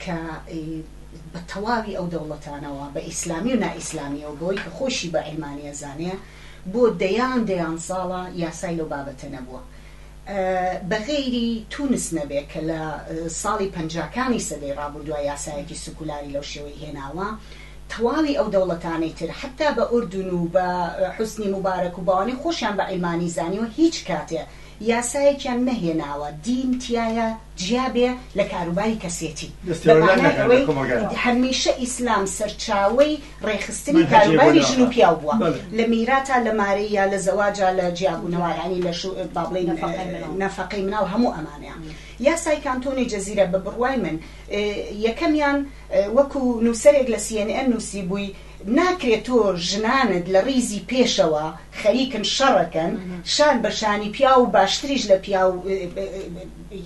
کە بە تەواوی ئەو دەوڵەتانەوە بە ئیسلامی و نائیسلامیەوە بەوەی کە خۆشی بە عیلمانی ئەزانێ بۆ دەیان دەیان ساڵە یاسای لەو بابەتە نەبووە. بە غەیری تونس نەبێ کە لە ساڵی پەنجاکانی سەدەی ڕابوردوە یاسایەکی سکولاری لەو شێوەی هێناوە، تەواوی ئەو دەوڵەتانەی تر حەتا بە ئوردون و بە حوسنی موبارەک و بەوانەی خۆشیان بە عیلمانی زانیوە هیچ کاتێ یاسایەکیان نەهێناوە دین تیایا جیا بێ لە کاروباری کەسێتی بە مانای ئەوەی هەمیشە ئیسلام سەرچاوەی ڕێکخستنی کاروباری ژن و پیاو بووە لە میراتا لە مارەی یا لە زەواجا لە جیابوونەوە یانی لە شو با بڵێین نەفەقەی مناڵ هەموو ئەمانەیان یاسای کانتۆنی جەزیرە بە بڕوای من یەکەمیان وەکو نووسەرێک لە CNN نووسی بووی ناکرێت تۆ ژنانت لە ڕیزی پێشەوە خەریکن شەڕەکەن شان بە شانی پیا و باشتریش لە پیا و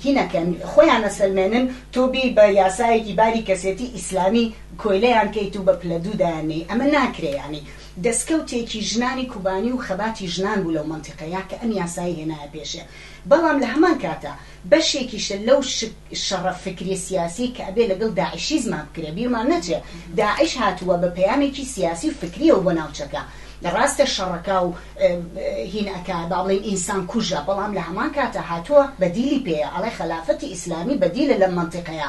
هینەکەن خۆیان نەسەلمێنن تۆ بی بە یاسایەکی باری کەسێتی ئیسلامی کۆیلەیان کەیت و بە پلە دوو دایاننێی ئەمە ناکرێ یانی دەسکەوتێکی ژنانی کوبانی و خەباتی ژنان بوو لەو مەنتیقەیە کە ئەم یاسایەی هێنایە پێشێ بەڵام لە هەمان کاتا بەشێکیشە لەو شەڕە فکری سیاسیەی کە ئەبێ لەگەڵ داعشیزما بکرێ بیرمان نەچێ داعش هاتووە بە پەیامێکی سیاسی و فکریەوە بۆ ناوچەکە ڕاستە شەڕەکا و هین ئەکا با بڵێن ئینسان کوژە بەڵام لە هەمان کاتا هاتووە بەدیلی پێیە ئەڵێ خەلافەتی ئیسلامی بەدیلە لەم مەنتیقەیە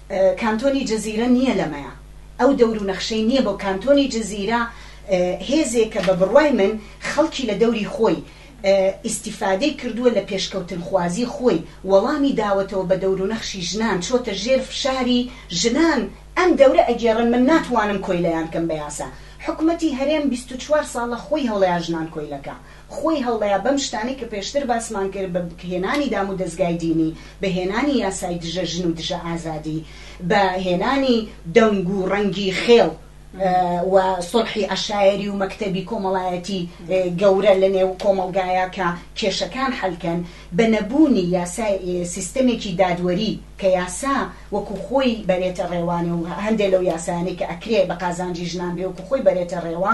کانتۆنی جزیرە نییە لەمەیە ئەو دەور و نەخشەی نییە بۆ کانتۆنی جزیرە هێزێکە بە بڕوای من خەڵکی لە دەوری خۆی ئیستیفادەی کردووە لە پێشکەوتنخوازی خۆی وەڵامی داوەتەوە بە دەور و نەخشی ژنان چۆتە ژێر فشاری ژنان ئەم دەورە ئەگێڕن من ناتوانم کۆیلەیان کەم بە یاسا حکومەتی هەرێم بیست و چوار ساڵە خۆی هەڵەیە ژنان کۆیلەکە خۆی هەڵەیە بەم شتانەی کە پێشتر باسمان کرد بە بکهێنانی دام و دەزگای دینی بە هێنانی یاسای دژە ژن و دژە ئازادی بە هێنانی دەنگ و ڕەنگی خێڵ و سوڵحی عەشایەری و مەکتەبی کۆمەڵایەتی گەورە لە نێو کۆمەڵگایا کە کێشەکان حەل کەن بە نەبوونی یاسای سیستەمێکی دادوەری کە یاسا وەکو خۆی بەرێتە ڕێوانێ و هەندێ لەو یاسایانەی کە ئەکرێ بە قازانجی ژنان بێ وەکو خۆی بەرێتە ڕێوە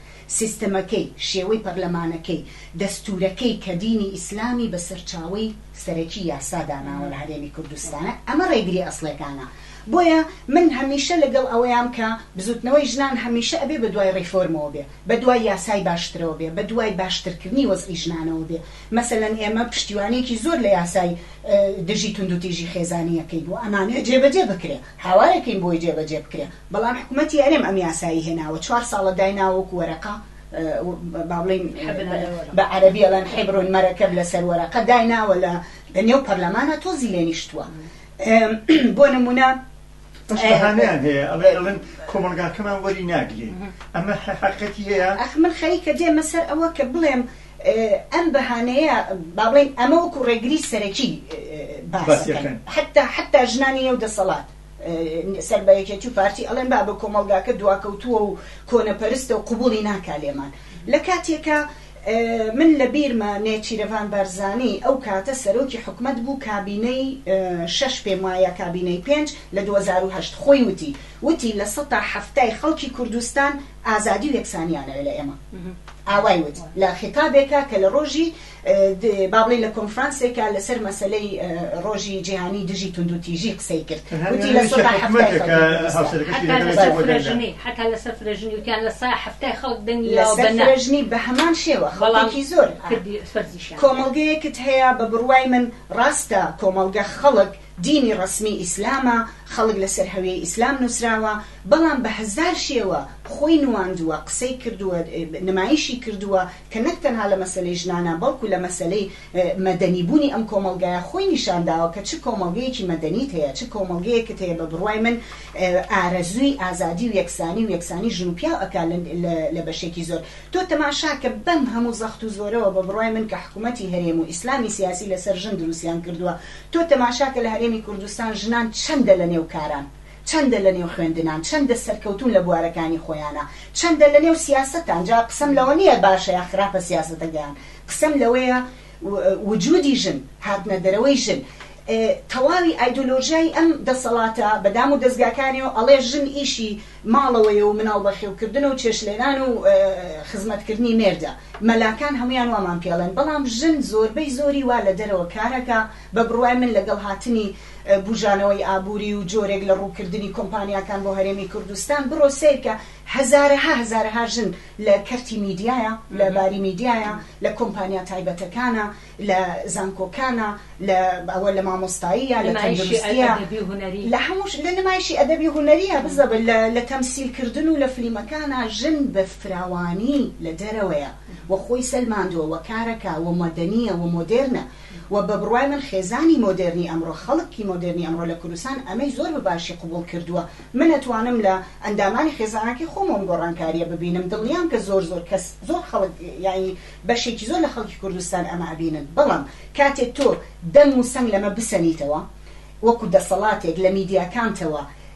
سیستمەکەی، شێوەی پەرلەمانەکەی، دەستوورەکەی کە دینی ئیسلامی بە سەرچاوەی سەرەکی یاسا داناوە لە هەرێمی کوردستان، ئەمە ڕێگری ئەسڵێکانە. بۆیە من هەمیشە لەگەڵ ئەوەیام کە بزووتنەوەی ژنان هەمیشە ئەبێ بە دوای ڕیفۆرمەوە بێ، بە دوای یاسای باشترەوە بێ، بە دوای باشترکردنی وەزعی ژنانەوە بێ. مەسەلەن ئێمە پشتیوانییەکی زۆر لە یاسای دژی توندوتیژی خێزانی ئەکەین و ئەمانەوێ جێبەجێ بکرێ، هاوارەکەین بۆی جێبەجێ بکرێ. بەڵام حکومەتی هەرێم ئەم یاسایەی هێناوە چوار ساڵە دایناوە وەکو وەرەقە با بڵێین بە عەرەبی ئەڵێن حبر مرکب لەسەر وەرەقە دایناوە لە نێو پەرلەمانە تۆزی لێ نیشتووە بۆ نمونە بەشهانیان هەیە ئەڵێ ئەڵن کۆمەلگاکەمان وەری ناگرین ئەمە حقەتی هەیە ئەخ من خەریکە دێمە سەر ئەوە کە بڵێم ئەم بەهانەیە با بڵێن ئەمە وەکو ڕێگری سەرەکی باسەکەن حتا حتا ژنانی نێو دەسەڵات سەر بە یەکێتی و پارتی ئەڵێن بابە کۆمەڵگاکە دواکەوتووە و کۆنەپەرستە و قبوڵی ناکا لێمان لە کاتێکا من لە بیرمە نێچیرەڤان بارزانی ئەو کاتە سەرۆکی حکومەت بوو کابینەی شەش پێم وایە کابینەی پێنج لە دوو هەزار و هەشت خۆی وتی وتی لە سەتا حەفتای خەڵکی کوردستان ئازادی و یەکسانیانەوێ لە ئێمە ئاوای وت لە خیتابێکا کە لە ڕۆژی بابڵێین لە کۆنفرانسێکا لەسەر مەسەلەی ڕۆژی جیهانی دژی توندوتیژی قسەی کرد وتی لە سەدا حتا لەسەر فرەژنی وتیان لە سا هەفتای خەڵک دەنگی لەژنی بە هەمان شێوە خەڵکی زۆر کۆمەڵگەیەکت هەیە بە بڕوای من ڕاستە کۆمەڵگە خەڵک دینی ڕسمی ئیسلامە خەڵک لەسەر هەوێ ئیسلام نووسراوە بەڵام بە هزار شێوە خۆی نواندووە قسەی کردووە نمایشی کردووە کە نەک تەنها لە مەسەلەی ژنانە، بەڵکو لە مەسەلەی مەدەنی بوونی ئەم کۆمەڵگایە خۆی نیشان داوە کە چ کۆمەڵگەیەکی مەدەنیت هەیە، چ کۆمەڵگەیەکت هەیە بە بڕوای من ئارەزووی ئازادی و یەکسانی و یەکسانی ژن و پیاو ئەکا لە بەشێکی زۆر. تۆ تەماشا کە بەم هەموو زەخت و زۆرەوە بە بڕوای من کە حکومەتی هەرێم و ئیسلامی سیاسی لە سەر ژن دروستیان کردووە، تۆ تەماشا کە لە هەرێمی کوردستان ژنان چەندە لە نێو کاران، چەندە لە نێو خوێندنان، چەندە سەرکەوتوون لە بوارەکانی خۆیانا، چەندە لە نێو سیاسەتان، جا قسەم لەوە نییە باشە یا خراپە سیاسەتەکەیان، قسەم لەوەیە وجودی ژن، هاتنە دەرەوەی ژن، تەواوی ئایدۆلۆژیای ئەم دەسەڵاتە بە دام و دەزگاکانیەوە ئەڵێ ژن ئیشی ماڵەوەیە و مناڵ بەخێوکردنە و چێشتلێنان و خزمەتکردنی مێردە، مەلاکان هەموویان وامان پێڵێن، بەڵام ژن زۆربەی زۆری وا لە دەرەوە کارەکا، بە بڕوای من لەگەڵ هاتنی، بوژانەوەی ئابوری و جۆرێک لە ڕووکردنی کۆمپانیاکان بۆ هەرێمی کوردستان بڕۆ سەیرکە هەزارەها هەزارەها ژن لە کەرتی میدیایە لە باری میدیایە لە کۆمپانیا تایبەتەکانە لە زانکۆکانە لە ئەوە لە مامۆستاییە لە تەندروستیە لە هەمووش لە نمایشی ئەدەبی هونەریە بزە لە تەمسیل کردن و لە فلیمەکانە ژن بە فراوانی لە دەرەوەیە وە خۆی سەلماندووە وە کارەکە وە مەدەنیە وە مۆدێرنە وە بە بڕوای من خێزانی مۆدێرنی ئەمڕۆ خەڵک کی مۆدێرنی ئەمڕۆ لە کوردستان ئەمەی زۆر بە باشی قبوڵ کردووە من ئەتوانم لە ئەندامانی خێزانەکەی خۆم ئەم گۆڕانکاریە ببینم دڵنیام کە زۆر زۆر کەس زۆر خەڵک یانی بەشێکی زۆر لە خەڵکی کوردستان ئەمە ئەبینن بەڵام کاتێ تۆ دەنگ و سەنگ لەمە بسەنیتەوە وەکو دەسەڵاتێک لە میدیاکانتەوە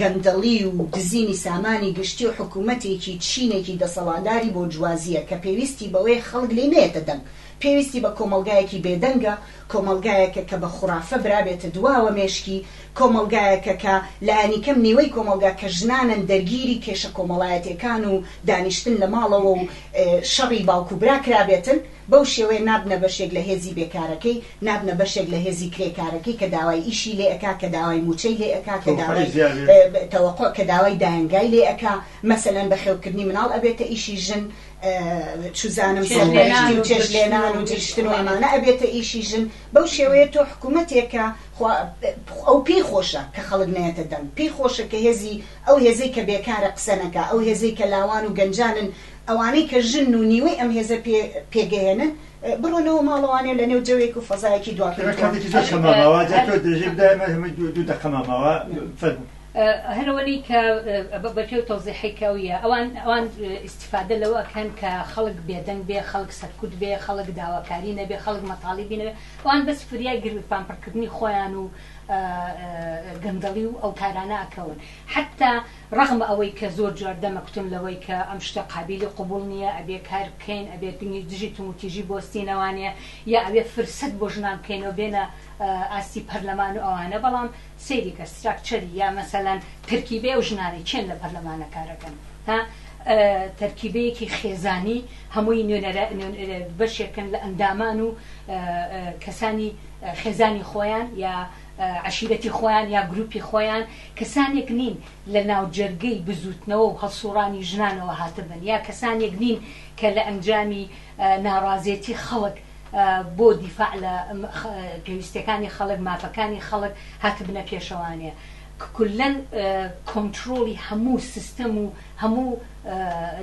گەندەڵی و دزینی سامانی گشتی و حکومەتێکی چینێکی دەسەڵاتداری بۆرجوازییە کە پێویستی بەوەیە خەڵک لێی نەیەتە دەنگ، پێویستی بە کۆمەڵگایەکی بێدەنگە، کۆمەڵگایەکە کە بە خورافە برابێتە دواوە مێشکی، کۆمەڵگایەکە کە لانی کەم نیوەی کۆمەڵگا کە ژنانن دەرگیری کێشە کۆمەڵایەتێکان و دانیشتن لە ماڵەوە و شەڕی باوک و برا کرابێتن، بەو شێوەیە نابنە بەشێک لە هێزی بێکارەکەی، نابنە بەشێک لە هێزی کرێکارەکەی کە داوای ئیشی لێ ئەکا کە داوای موچەی لێ ئەکا کە داوای تەوەقوع کە داوای دایەنگای لێ ئەکا مەسەلەن بەخێوکردنی مناڵ ئەبێتە ئیشی ژن چوزانم سەرپەرشتی و چێشت لێنان و جشتن و ئەمانە ئەبێتە ئیشی ژن بەو شێوەیە تۆ حکومەتێک کە خوا ئەو پێی خۆشە کە خەڵک نەیەتە دەنگ پێی خۆشە کە هێزی ئەو هێزەی کە بێکارە قسە نەکا ئەو هێزەی کە لاوان و گەنجانن ئەوانەی کە ژنن و نیوەی ئەم هێزە پێ پێگەیەنن بڕۆنەوە ماڵەوانێ لە نێو جەوێک و فەزایەکی دوا پێی تۆن. هەرەوەنی کە بەپێ و تۆزیحی کەویە ئەوان ئەوان ئیسیفادە لەوە ئەکەن کە خەڵک بێدەنگ بێ خەڵک سەرکوت بێ خەڵک داواکاری نەبێ خەڵک مەتاڵی بینەوێ ئەوان بەس فریای گرت پامپڕکردنی خۆیان و گەندەڵی و ئەو کارانە ئەکەون حتا ڕەغم ئەوەی کە زۆر جار دەمکوتم لەوەی کە ئەم شتە قابیلی قبوڵ نییە، ئەبێ کار بکەین، ئەبێ دژی توموتیژی بۆستینەوانێ، یا ئەبێ فرسەت بۆ ژنان بکەینەوە بێنە ئاستی پەرلەمان و ئەوانە، بەڵام سەیری کە ستراکچەری یا مەسەلەن تەرکیبەی ئەو ژنانەی کێن لە پەرلەمانە کارەکەن ها تەرکیبەیەکی خێزانی هەمووی نوێنەرە بەشێکن لە ئەندامان و کەسانی خێزانی خۆیان یا عەشیرەتی خۆیان یا گروپی خۆیان کەسانێک نین لە ناوجەرگەی بزووتنەوە و هەڵسووڕانی ژنانەوە هاتبن یا کەسانێک نین کە لە ئەنجامی ناڕازێتی خەڵک بۆ دیفاع لە پێویستیەکانی خەڵک، مافەکانی خەڵک هاتبنە پێشەوانێ. کلەن کۆنترۆڵی هەموو سیستەم و هەموو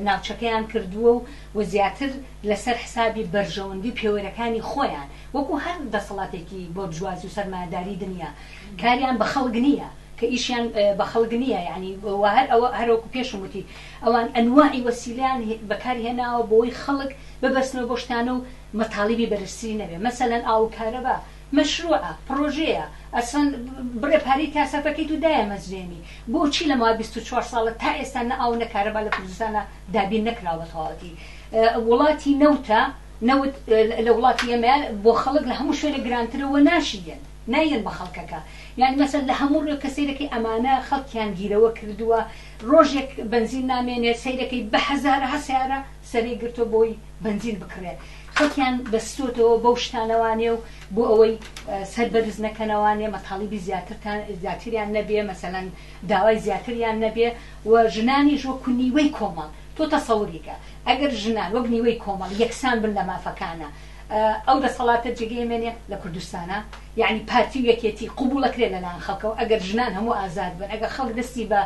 ناوچەکەیان کردووە و و زیاتر لەسەر حسابی بەرژەوەندی و پێوەرەکانی خۆیان وەکو هەر دەسەڵاتێکی بۆرجوازی و سەرمایەداری دنیا کاریان بە خەڵک نیە کە ئیشیان بە خەڵک نیە یانی وا هەر ئەوە هەر وەکو پێشم وتی ئەوان ئەنواعی وەسیلەیان بەکار هێناوە بۆی خەڵک ببەستنەوە بۆ شتانە و مەتاڵیبی بەرزتری نەبێ مەسەلەن ئاو و کارەبا مەشروعە پڕۆژەیە ئەسڵەن بڕێ پارەی تیا سەرف ئەکەیت و دایەمەزرێنی بۆچی لە ماوەی بیست و چوار ساڵە تا ئێستا نە ئاو و نە کارەبا لە کوردستانا دابین نەکراوە بە تەواوەتی وڵاتی نەوتە نەوت لە وڵاتی ئێمەیا بۆ خەڵک لە هەموو شوێنێک گرانترە و ناشیێت. نایەن بە خەڵکەکە یانی مەسەن لە هەموو ڕوێکە سەیرەکەی ئەمانە خەڵکیان گیرەوە کردووە ڕۆژێک بەنزین نامێنێت سەیرەکەی بە هەزارەها سیارە سەرێ گرتۆ بۆی بەنزین بکڕێت خەڵکیان بەستۆتەوە بەو شتانەوانێ و بۆ ئەوەی سەر بەرز نەکەنەوانێ مەتاڵیبی زیاترتان زیاتریان نەبێ مەسەەن داوای زیاتریان نەبێ و ژنانی ژۆ کونیوەی کۆمەڵ تۆ تەسەوریکە ئەگەر ژنان وەک نیوەی کۆمەڵ یەکسان بن لە مافەکانە ئەو دەسەڵاتە جێگەی ئێمە نیە لە کوردستانا یەعنی پارتی و یەکێتی قبوڵەکرێ لەلایەن خەڵکەوە ئەگەر ژنان هەموو ئازاد بن ئەگەر خەڵک دەستی بە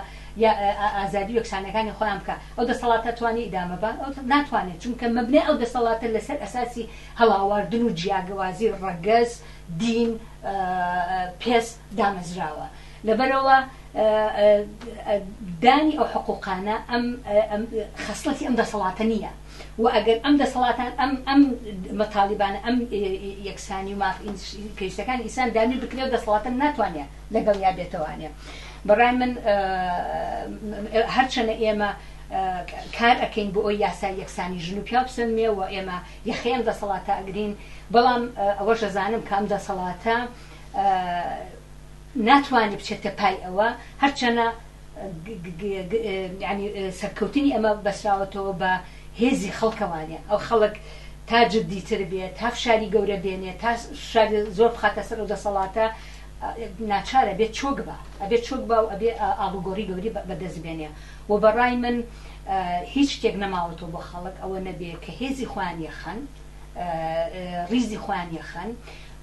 ئازادی و یەکسانەکانی خۆیان بکا ئەو دەسەڵاتە توانی ئیدامە بان ئەو ناتوانێت چونکە مەبنای ئەو دەسەڵاتە لەسەر ئەساسی هەڵاواردن و جیاگەوازی ڕەگەز دین پێس دامەزراوە لەبەرەوە دانی ئەو حقوقانە ئەم خەسڵەتی ئەم دەسەڵاتە نییە و ئەگەر ئەم دەسەڵاتان ئەم ئەم مەتالیبانە ئەم یەکسانی و ماف کەیسەکان ئیسان دابین بکرێ و دەسەڵاتن ناتوانێ لەگەڵ یا بێتەوانێ بەڕای من هەرچەنە ئێمە کار ئەەکەین بۆ ئەوی یاسای یەکسانی ژن و پیا بسەنمێ و ئێمە یەخەیەم دەسەڵاتە ئەگرین بەڵام ئەوەشەزانم کام دەسەڵاتە ناتوانی بچێتە پای ئەوە، هەرچەنە سەرکەوتنی ئەمە بەسراوەتەوە بە هێزی خەڵکەوانێ، ئەو خەڵک تا جدیتر بێ، تا فشاری گەورە بێنێ، تا فشاری زۆر بخاتە سەر ئەو دەسەڵاتە، ناچار ئەبێ چۆک با، ئەبێ چۆک با و ئەبێ ئاڵوگۆڕی گەورەی بەدەست بێنێ و بە ڕای من هیچ شتێک نەماوەتەوە بۆ خەڵک ئەوە نەبێ کە هێزی خۆیان یەخەن، ڕیزی خۆیان یەخەن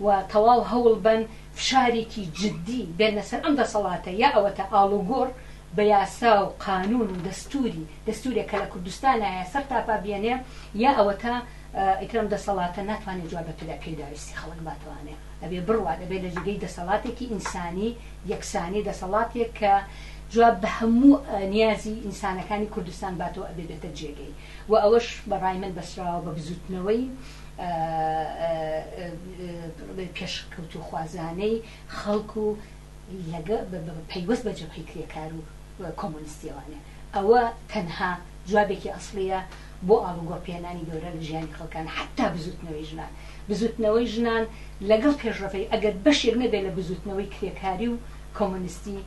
و تەواو هەوڵ بەن. فشارێکی جدی بێننە سەر ئەم دەسەڵاتە یا ئەوەتا ئاڵوگۆڕ بە یاسا و قانون و دەستوری دەستورێک کە لە کوردستانایە سەرتاپا بێنێ یا ئەوەتا ئیتر ئەم دەسەڵاتە ناتوانێ جواب بە پێداویستی خەڵک باتوانێ ئەبێ بڕوات ئەبێ لە جێگەی دەسەڵاتێکی ئینسانی یەکسانی دەسەڵاتێک کە جواب بە هەموو نیازی ئینسانەکانی کوردستان باتەوە ئەبێ بێتە جێگەی وە ئەوەش بە ڕای من بەسراوە بە بزوتنەوەی پێشکەوتوخوازانەی خەڵک و پەیوەست بە جەبهەی کرێکار و کۆمۆنستیەوانێ ئەوە تەنها جوابێکی ئەسڵیە بۆ ئاڵوگۆڕ پێنانی گەورە لە ژیانی خەڵکان حەتا بزوتنەوەی ژنان بزوتنەوەی ژنان لەگەڵ پێشڕەفەی ئەگەر بەشێک نەبێت لە بزوتنەوەی کرێکاری و کۆمۆنستی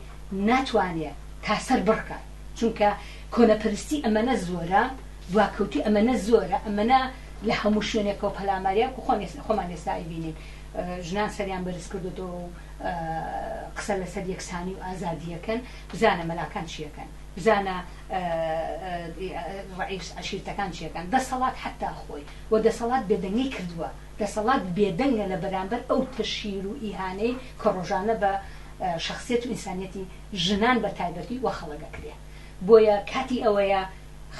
ناتوانێ تاسەر بڕکات. چونکە کۆنەپەرستی ئەمەنە زۆرە دواکەوتوی ئەمەنە زۆرە ئەمەنە لە هەموو شوێنێکەوە پەلاماریان کو خۆ خۆمان ئێستا ئەیبینین ژنان سەریان بەرز کردوەوە و قسە لەسەر یەکسانی و ئازادیەکەن بزانە مەلاکان چیەکەن بزانە ڕعیس عشیرتەکان چیەکەن دەسەڵات حتا خۆی و دەسەڵات بێدەنگی کردووە دەسەڵات بێدەنگە لە بەرامبەر ئەو تەشیر و ئیهانەی کە ڕۆژانە بە شخصیت و ئینسانیەتی ژنان بە تایبەتی وە خەڵک ئەکرێ بۆیە کاتی ئەوەیە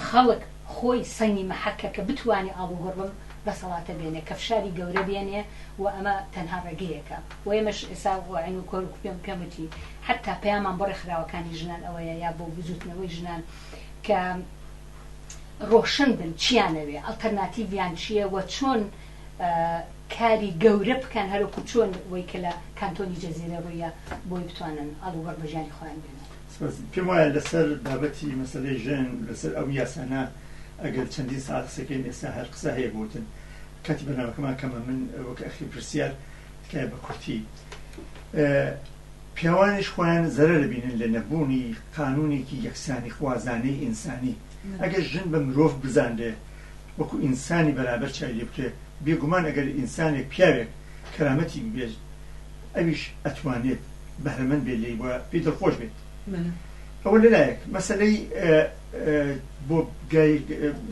خەڵک خۆی سەنگی مەحەکە کە بتوانێ ئاڵوگۆڕ بەم دەسەڵاتە بێنێ کە فشاری گەورە بێنێ و ئەمە تەنها ڕێگەیەکە و ئێمەش ئێسا واعین و کۆر پێم پێم وتی حەتا پەیامان بۆ ڕێکخراوەکانی ژنان ئەوەیە یا بۆ بزووتنەوەی ژنان کە ڕۆشن بن چیان ئەوێ ئەڵتەرناتیڤیان چییە وە چۆن کاری گەورە بکەن هەروەکو چۆن وەی کە لە کانتۆنی جزیرە روویە بۆی بتوانن ئاڵوگۆڕ بە ژیانی خۆیان بێنن. سپاس. پێم وایە لەسەر بابەتی مەسەلەی ژن لەسەر ئەو یاسانە ئەگەر چەندین سەعات قسە کەین ئێستا هەر قسە هەیە بۆ وتن کاتی بەرنامەکەمان کەمە من وەک ئەخیر پرسیار تکایە بە کورتی پیاوانیش خۆیان زەرە دەبینن لە نەبوونی قانونێکی یەکسانی خوازانەی ئینسانی ئەگەر ژن بە مرۆڤ بزانرێ وەکو ئینسانی بەرابەر چای لێ بکرێ بێگومان ئەگەر ئینسانێک پیاوێک کەرامەتی ببێژ ئەویش ئەتوانێت بەهرەمەند بێت لێی وە پێی دڵخۆش بێت ئەوە لەلایەک مەسلەی بۆ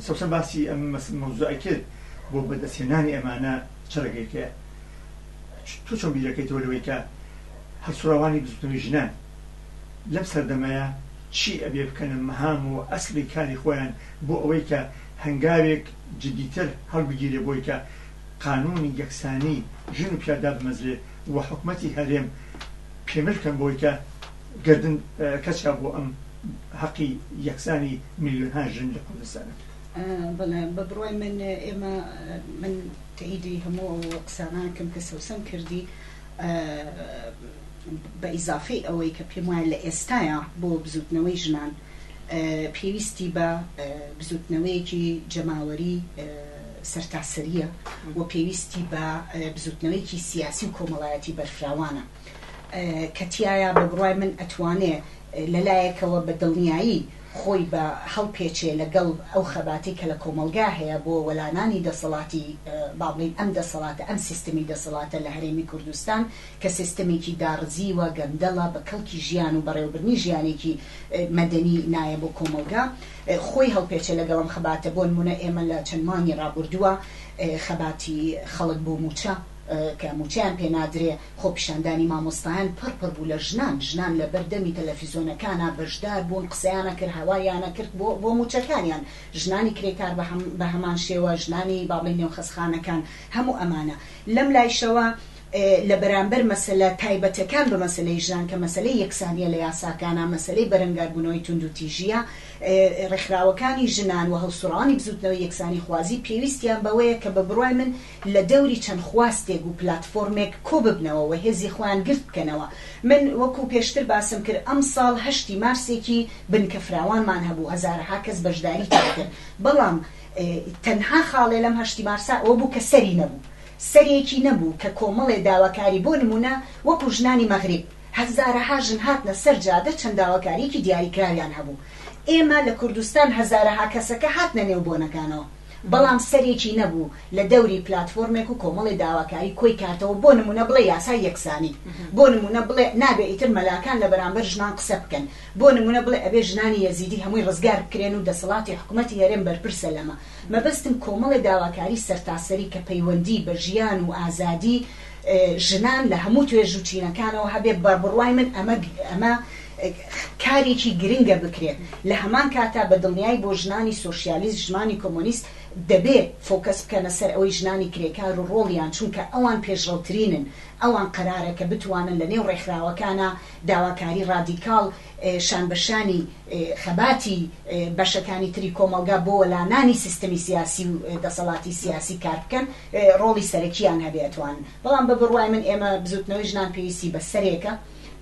سەوسەن باسی ئەم مەوزوعی کرد بۆ بەدەستێنانی ئەمانە چڕگەیکەیە تو چۆن بیرەکەیتەوە لەوەی کە هەڵسوڕاوانی بزوتنەوەی ژنان لەم سەردەمەیا چی ئەبێ بکەنە مهام و ئەسڵی کاری خۆیان بۆ ئەوەی کە هەنگاوێک جدیتر هەڵبگیرێ بۆی کە قانوونی یەکسانی ژن و پیاو دابمەزرێ و حکومەتی هەرێم پێمل کەن بۆی کە گەردن کەچا بۆ ئەم هەقی یەکسانی ملیۆنها ژن لە کوردستانە. بەڵێ بە بڕوای من ئێمە من تەئیدی هەموو ئەو قسانە ئەکەم کە سەوسەن کردی. بە ئیزافەی ئەوەی کە پێم وایە لە ئێستایا بۆ بزووتنەوەی ژنان پێویستی بە بزووتنەوەیەکی جەماوەری سەرتاسەرییە و پێویستی بە بزووتنەوەیەکی سیاسی و کۆمەڵایەتی بەرفراوانە کە تایە بە بڕای من ئەتوانێ لەلایەکەوە بە دڵنیایی خۆی بە هەڵپێچێ لە گەڵ ئەو خەباتەی کە لە کۆمەڵگا هەیە بۆ وەلانانی دەسەڵاتی با بڵێین ئەم دەسەڵاتە ئەم سیستمی دەسەڵاتە لە هەرێمی کوردستان کە سیستمێکی داڕزیوە گەندەڵە بە کەڵکی ژیان و بەڕێوەبردنی ژیانێکی مەدەنی نایە بۆ کۆمەڵگا خۆی هەڵپێچێ لەگەڵ ئەم خەباتە بۆنمونە ئێمە لە چەند مانگی ڕابوردوە خەباتی خەڵک بۆ موچە کە موچەیان پێ نادرێ خۆپیشاندانی مامۆستایان پڕ پڕ بوو لە ژنان، ژنان لە بەر دەمی تەلەفیزۆنەکانا بەشدار بوون قسەیانا کرد هەوالیانا کرد بۆ بۆ موچەکانیان، ژنانی کرێکار بە هەم بە هەمان شێوە، ژنانی با بڵێین نێو خەسخانەکان هەموو ئەمانە. لەم لایشەوە لە بەرامبەر مەسەلە تایبەتەکان بە مەسەلەی ژنان کە مەسەلەی یەکسانیە لە یاساکانا، مەسەلەی بەرەنگار بوونەوەی توندوتیژیە، ڕێکخراوەکانی ژنان و هەڵسوڕەوانی بزوتنەوەی یەکسانی خوازی پێویستیان بەوەیە کە بە بڕوای من، لە دەوری چەند خواستێک و پلاتفۆرمێک کۆ ببنەوە و هێزی خۆیان گرت بکەنەوە. من وەکو پێشتر باسم کرد ئەمساڵ هەشتی مارسێکی بنکە فراوانمان هەبوو، هەزارەها کەس بەشداری تیا کرد، بەڵام تەنها خاڵێ لەم هەشتی مارسە ئەوە بوو کە سەری نەبوو، سەرێکی نەبوو کە کۆمەڵێ داواکاری بۆ نموونە وەکو ژنانی مەغریب، هەزارەها ژن هاتنە سەر جادە چەند داواکاریەکی دیاریکراویان هەبوو. ئێمە لە کوردستان هەزارەها کەسەکە هاتنە نێو بۆنەکانەوە. بەڵام سەرێکی نەبوو لە دەوری پلاتفۆرمێک و کۆمەڵی داواکاری کۆی کارتەوە بۆ نمونە بڵێ یاسای یەکسانی بۆ نمونە بڵێ نابێ ئیتر مەلاکان لە بەرامبەر ژنان قسە بکەن بۆ نمونە بڵێ ئەبێ ژنانی یەزیدی هەمووی ڕزگار بکرێن و دەسەڵاتی حکومەتی هەرێم بەرپرسە لەمە مەبەستم کۆمەڵی داواکاری سەرتاسەری کە پەیوەندی بە ژیان و ئازادی ژنان لە هەموو توێژ و چینەکانەوە هەبێت، بە بڕوای من ئەمە ئەمە کارێکی گرنگە بکرێت، لە هەمان کاتا بە دڵنیایی بۆ ژنانی سۆشیالیست، ژمانی کۆمۆنیست دەبێ فۆکەس بکەنە سەر ئەوەی ژنانی کرێکار و ڕۆڵیان، چونکە ئەوان پێشڕەوترینن، ئەوان قەرارە کە بتوانن لە نێو ڕێکخراوەکانا داواکاری ڕادیکاڵ شان بە شانی خەباتی بەشەکانی تری کۆمەڵگا بۆ وەلانانی سیستەمی سیاسی و دەسەڵاتی سیاسی کار بکەن. ڕۆڵی سەرەکییان هەبێتوان، بەڵام بە بڕوای من ئێمە بزووتنەوەی ژنان پێویستی بە سەرێکە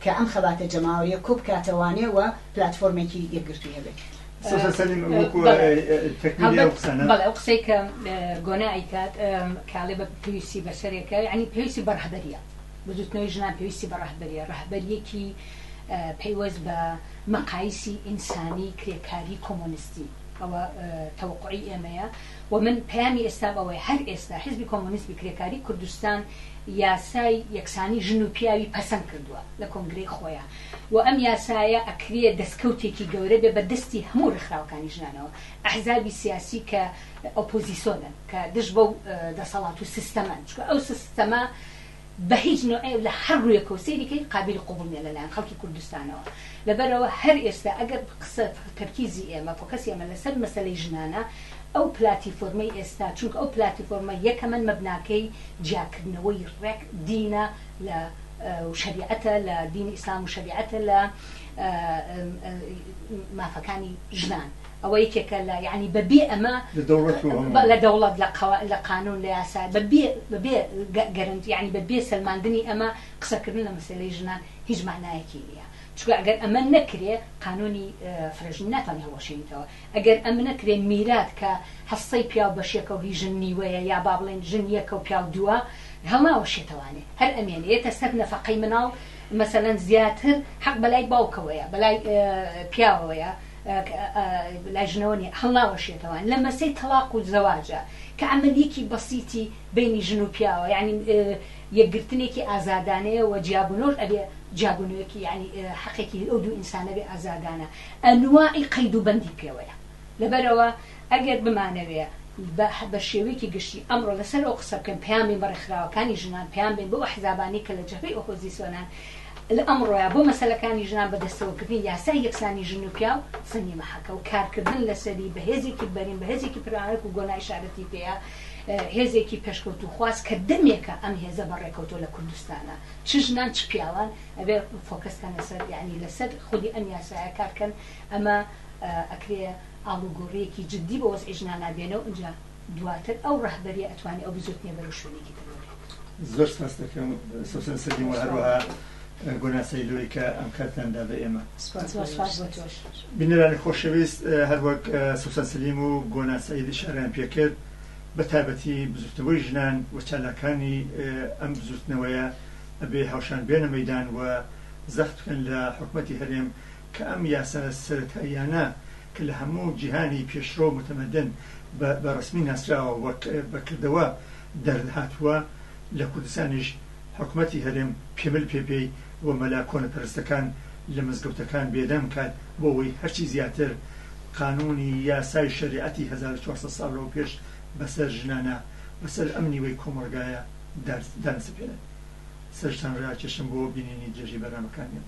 کە ئەم خەباتە جەماوەرییە کۆ بکاتەوانێ و پلاتفۆرمێکی یەکگرتووی هەبێت. سۆزان سەلیم وەکو تەکمیلی ئەو قسانە. بەڵێ ئەو قسەی کە گۆنا ئەیکات کە ئەڵێ بە پێویستی بە سەرێکە یەعنی پێویستی بە ڕەهبەرییە، بزووتنەوەی ژنان پێویستی بە ڕەهبەرییە، ڕەهبەرییەکی پەیوەست بە مەقایسی ئینسانی کرێکاری کۆمۆنیستی، ئەوە تەوەقوعی ئێمەیە. وە من پەیامی ئێستام ئەوەیە هەر ئێستا حیزبی کۆمۆنیزمی کرێکاری کوردستان یاسای یەکسانی ژن و پیاوی پەسەند کردوە لە کۆنگرەی خۆیا و ئەم یاسایە ئەکرێ دەسکەوتێکی گەورە بێ بە دەستی هەموو ڕێکخراوەکانی ژنانەوە ئەحزابی سیاسی کە ئۆپۆزیسۆنن کە دژ بەو دەسەڵات و سیستەمەن چونکە ئەو سیستەمە بە هیچ نوعێ و لە هەر روویەکە و سەیری کەی قابیلی قبوڵ نیە لە لایەن خەڵکی کوردستانەوە لەبەرئەوە هەر ئێستا ئەگەر قسە تەرکیزی ئێمە فۆکەسی ئێمە لە سەر مەسەلەی ژنانە ئەو پلاتیفۆرمەی ئێستا چونکە ئەو پلاتیفۆرمە یەکەمەن مەبناکەی جیاکردنەوەی رێک دینە لە و شەریعەتە لە دینی ئیسلام و شەریعەتە لە مافەکانی ژنان. ئەوە یەکێکە لە یەعنی بە بێ ئەمە لە دەوڵەت و هەموو لە دەوڵەت لە قەوا لە قانون لە یاسا بە بێ بە بێ گە گەرەنتی یەعنی بە بێ سەلماندنی ئەمە قسە کردن لە مەسەلەی ژنان هیچ مانایەکی نیە چونکە ئەگەر ئەمە نەکرێ قانونی فرەژنی ناتوانی هەڵوەشێنیتەوە ئەگەر ئەم نەکرێ میرات کە هەسەی پیاو بەش یەکە و هی ژن نیوەیە یا با بڵێن ژن یەکە و پیاو دووە هەڵناوەشێتەوانێ هەر ئەمێنێتە سەر نەفەقەی مناڵ مەسەلەن زیاتر حەق بە لای باوکەوەیە بە لای پیاوەوەیە لای ژنەوە نیە هەڵناوە شێتەوان لە مەسەی تەڵاق و زەواجا کە عەمەلیەکی بەسیتی بەینی ژن و پیاوە یانی یەکگرتنێکی ئازادانەیە وە جیابونەوەش ئەبێ جیابونەوەکی یانی حەقێکی ئەو دوو ئینسانە بێ ئازادانە ئەنواعی قەید و بەندی پێوەیە لەبەرئەوە ئەگەر بمانەوێ بە شێوەیەکی گشتی ئەمڕۆ لەسەر ئەو قسە بکەین پەیام بین بە ڕێکخراوەکانی ژنان پەیام بین بەو ئەحزابانەی کە لە جەبهەی ئۆپۆزیسۆنان لە ئەمڕۆیە بۆ مەسەلەکانی ژنان بەدەستەوەکردنی یاسای یەکسانی ژن و پیاو سەنگی مەحەکە و کارکردن لەسەری بە هێزێکی بەرین بە هێزێکی پرانک و گۆنا ئیشارەتی پێیە هێزێکی پێشکەوتوخواز کە دەمێکە ئەم هێزە بە ڕێکەوتۆ لە کوردستانە چ ژنان چ پیاوان ئەبێ فۆکەسکەن لەسەر یعنی لەسەر خودی ئەم یاسایە کارکەن ئەمە ئەکرێ ئاڵوگۆڕیەکی جددی بۆ وەزعی ژنانا بێنە و ئینجا دواتر ئەو ڕەهبەریە ئەتوانێ ئەو بزوتنێ بەرەو شوێنێکی تر ببرێت. زۆر سپاست دەکەم سوسن سەدیم و هەروەها گۆنا سەیلۆی کە ئەم کاتتان دا بە ئێمە. سپاس بۆ سپاس بۆ تۆش. بینەرانی خۆشەویست هەروەک سوسن سەلیم و گۆنا سەید ئیشارەیان پێ کرد بە تایبەتی بزوتنەوەی ژنان و چالاکانی ئەم بزوتنەوەیە ئەبێ هاوشان بێنە مەیدان و زەخت بکەن لە حکومەتی هەرێم کە ئەم یاسا سەرەتاییانە کە لە هەموو جیهانی پێشڕەو و متمدن بە بە ڕەسمی ناسراوە و بە کردەوە دەرهاتووە، لە کوردستانیش حکومەتی هەرێم پیمل پێ پێی و مەلا کۆنەپەرستەکان لە مزگەوتەکان بێدەنگ کات بۆ ئەوەی هەرچی زیاتر قانونی یاسای شەریعەتی هەزار و چوار سەد ساڵ لەوە پێش بەسەر ژنانا بەسەر ئەم نیوەی کۆمەڵگایە دانسەپێنن. سەرشتان ڕاکێشم بۆ بینینی درێژەی بەرنامەکانیان.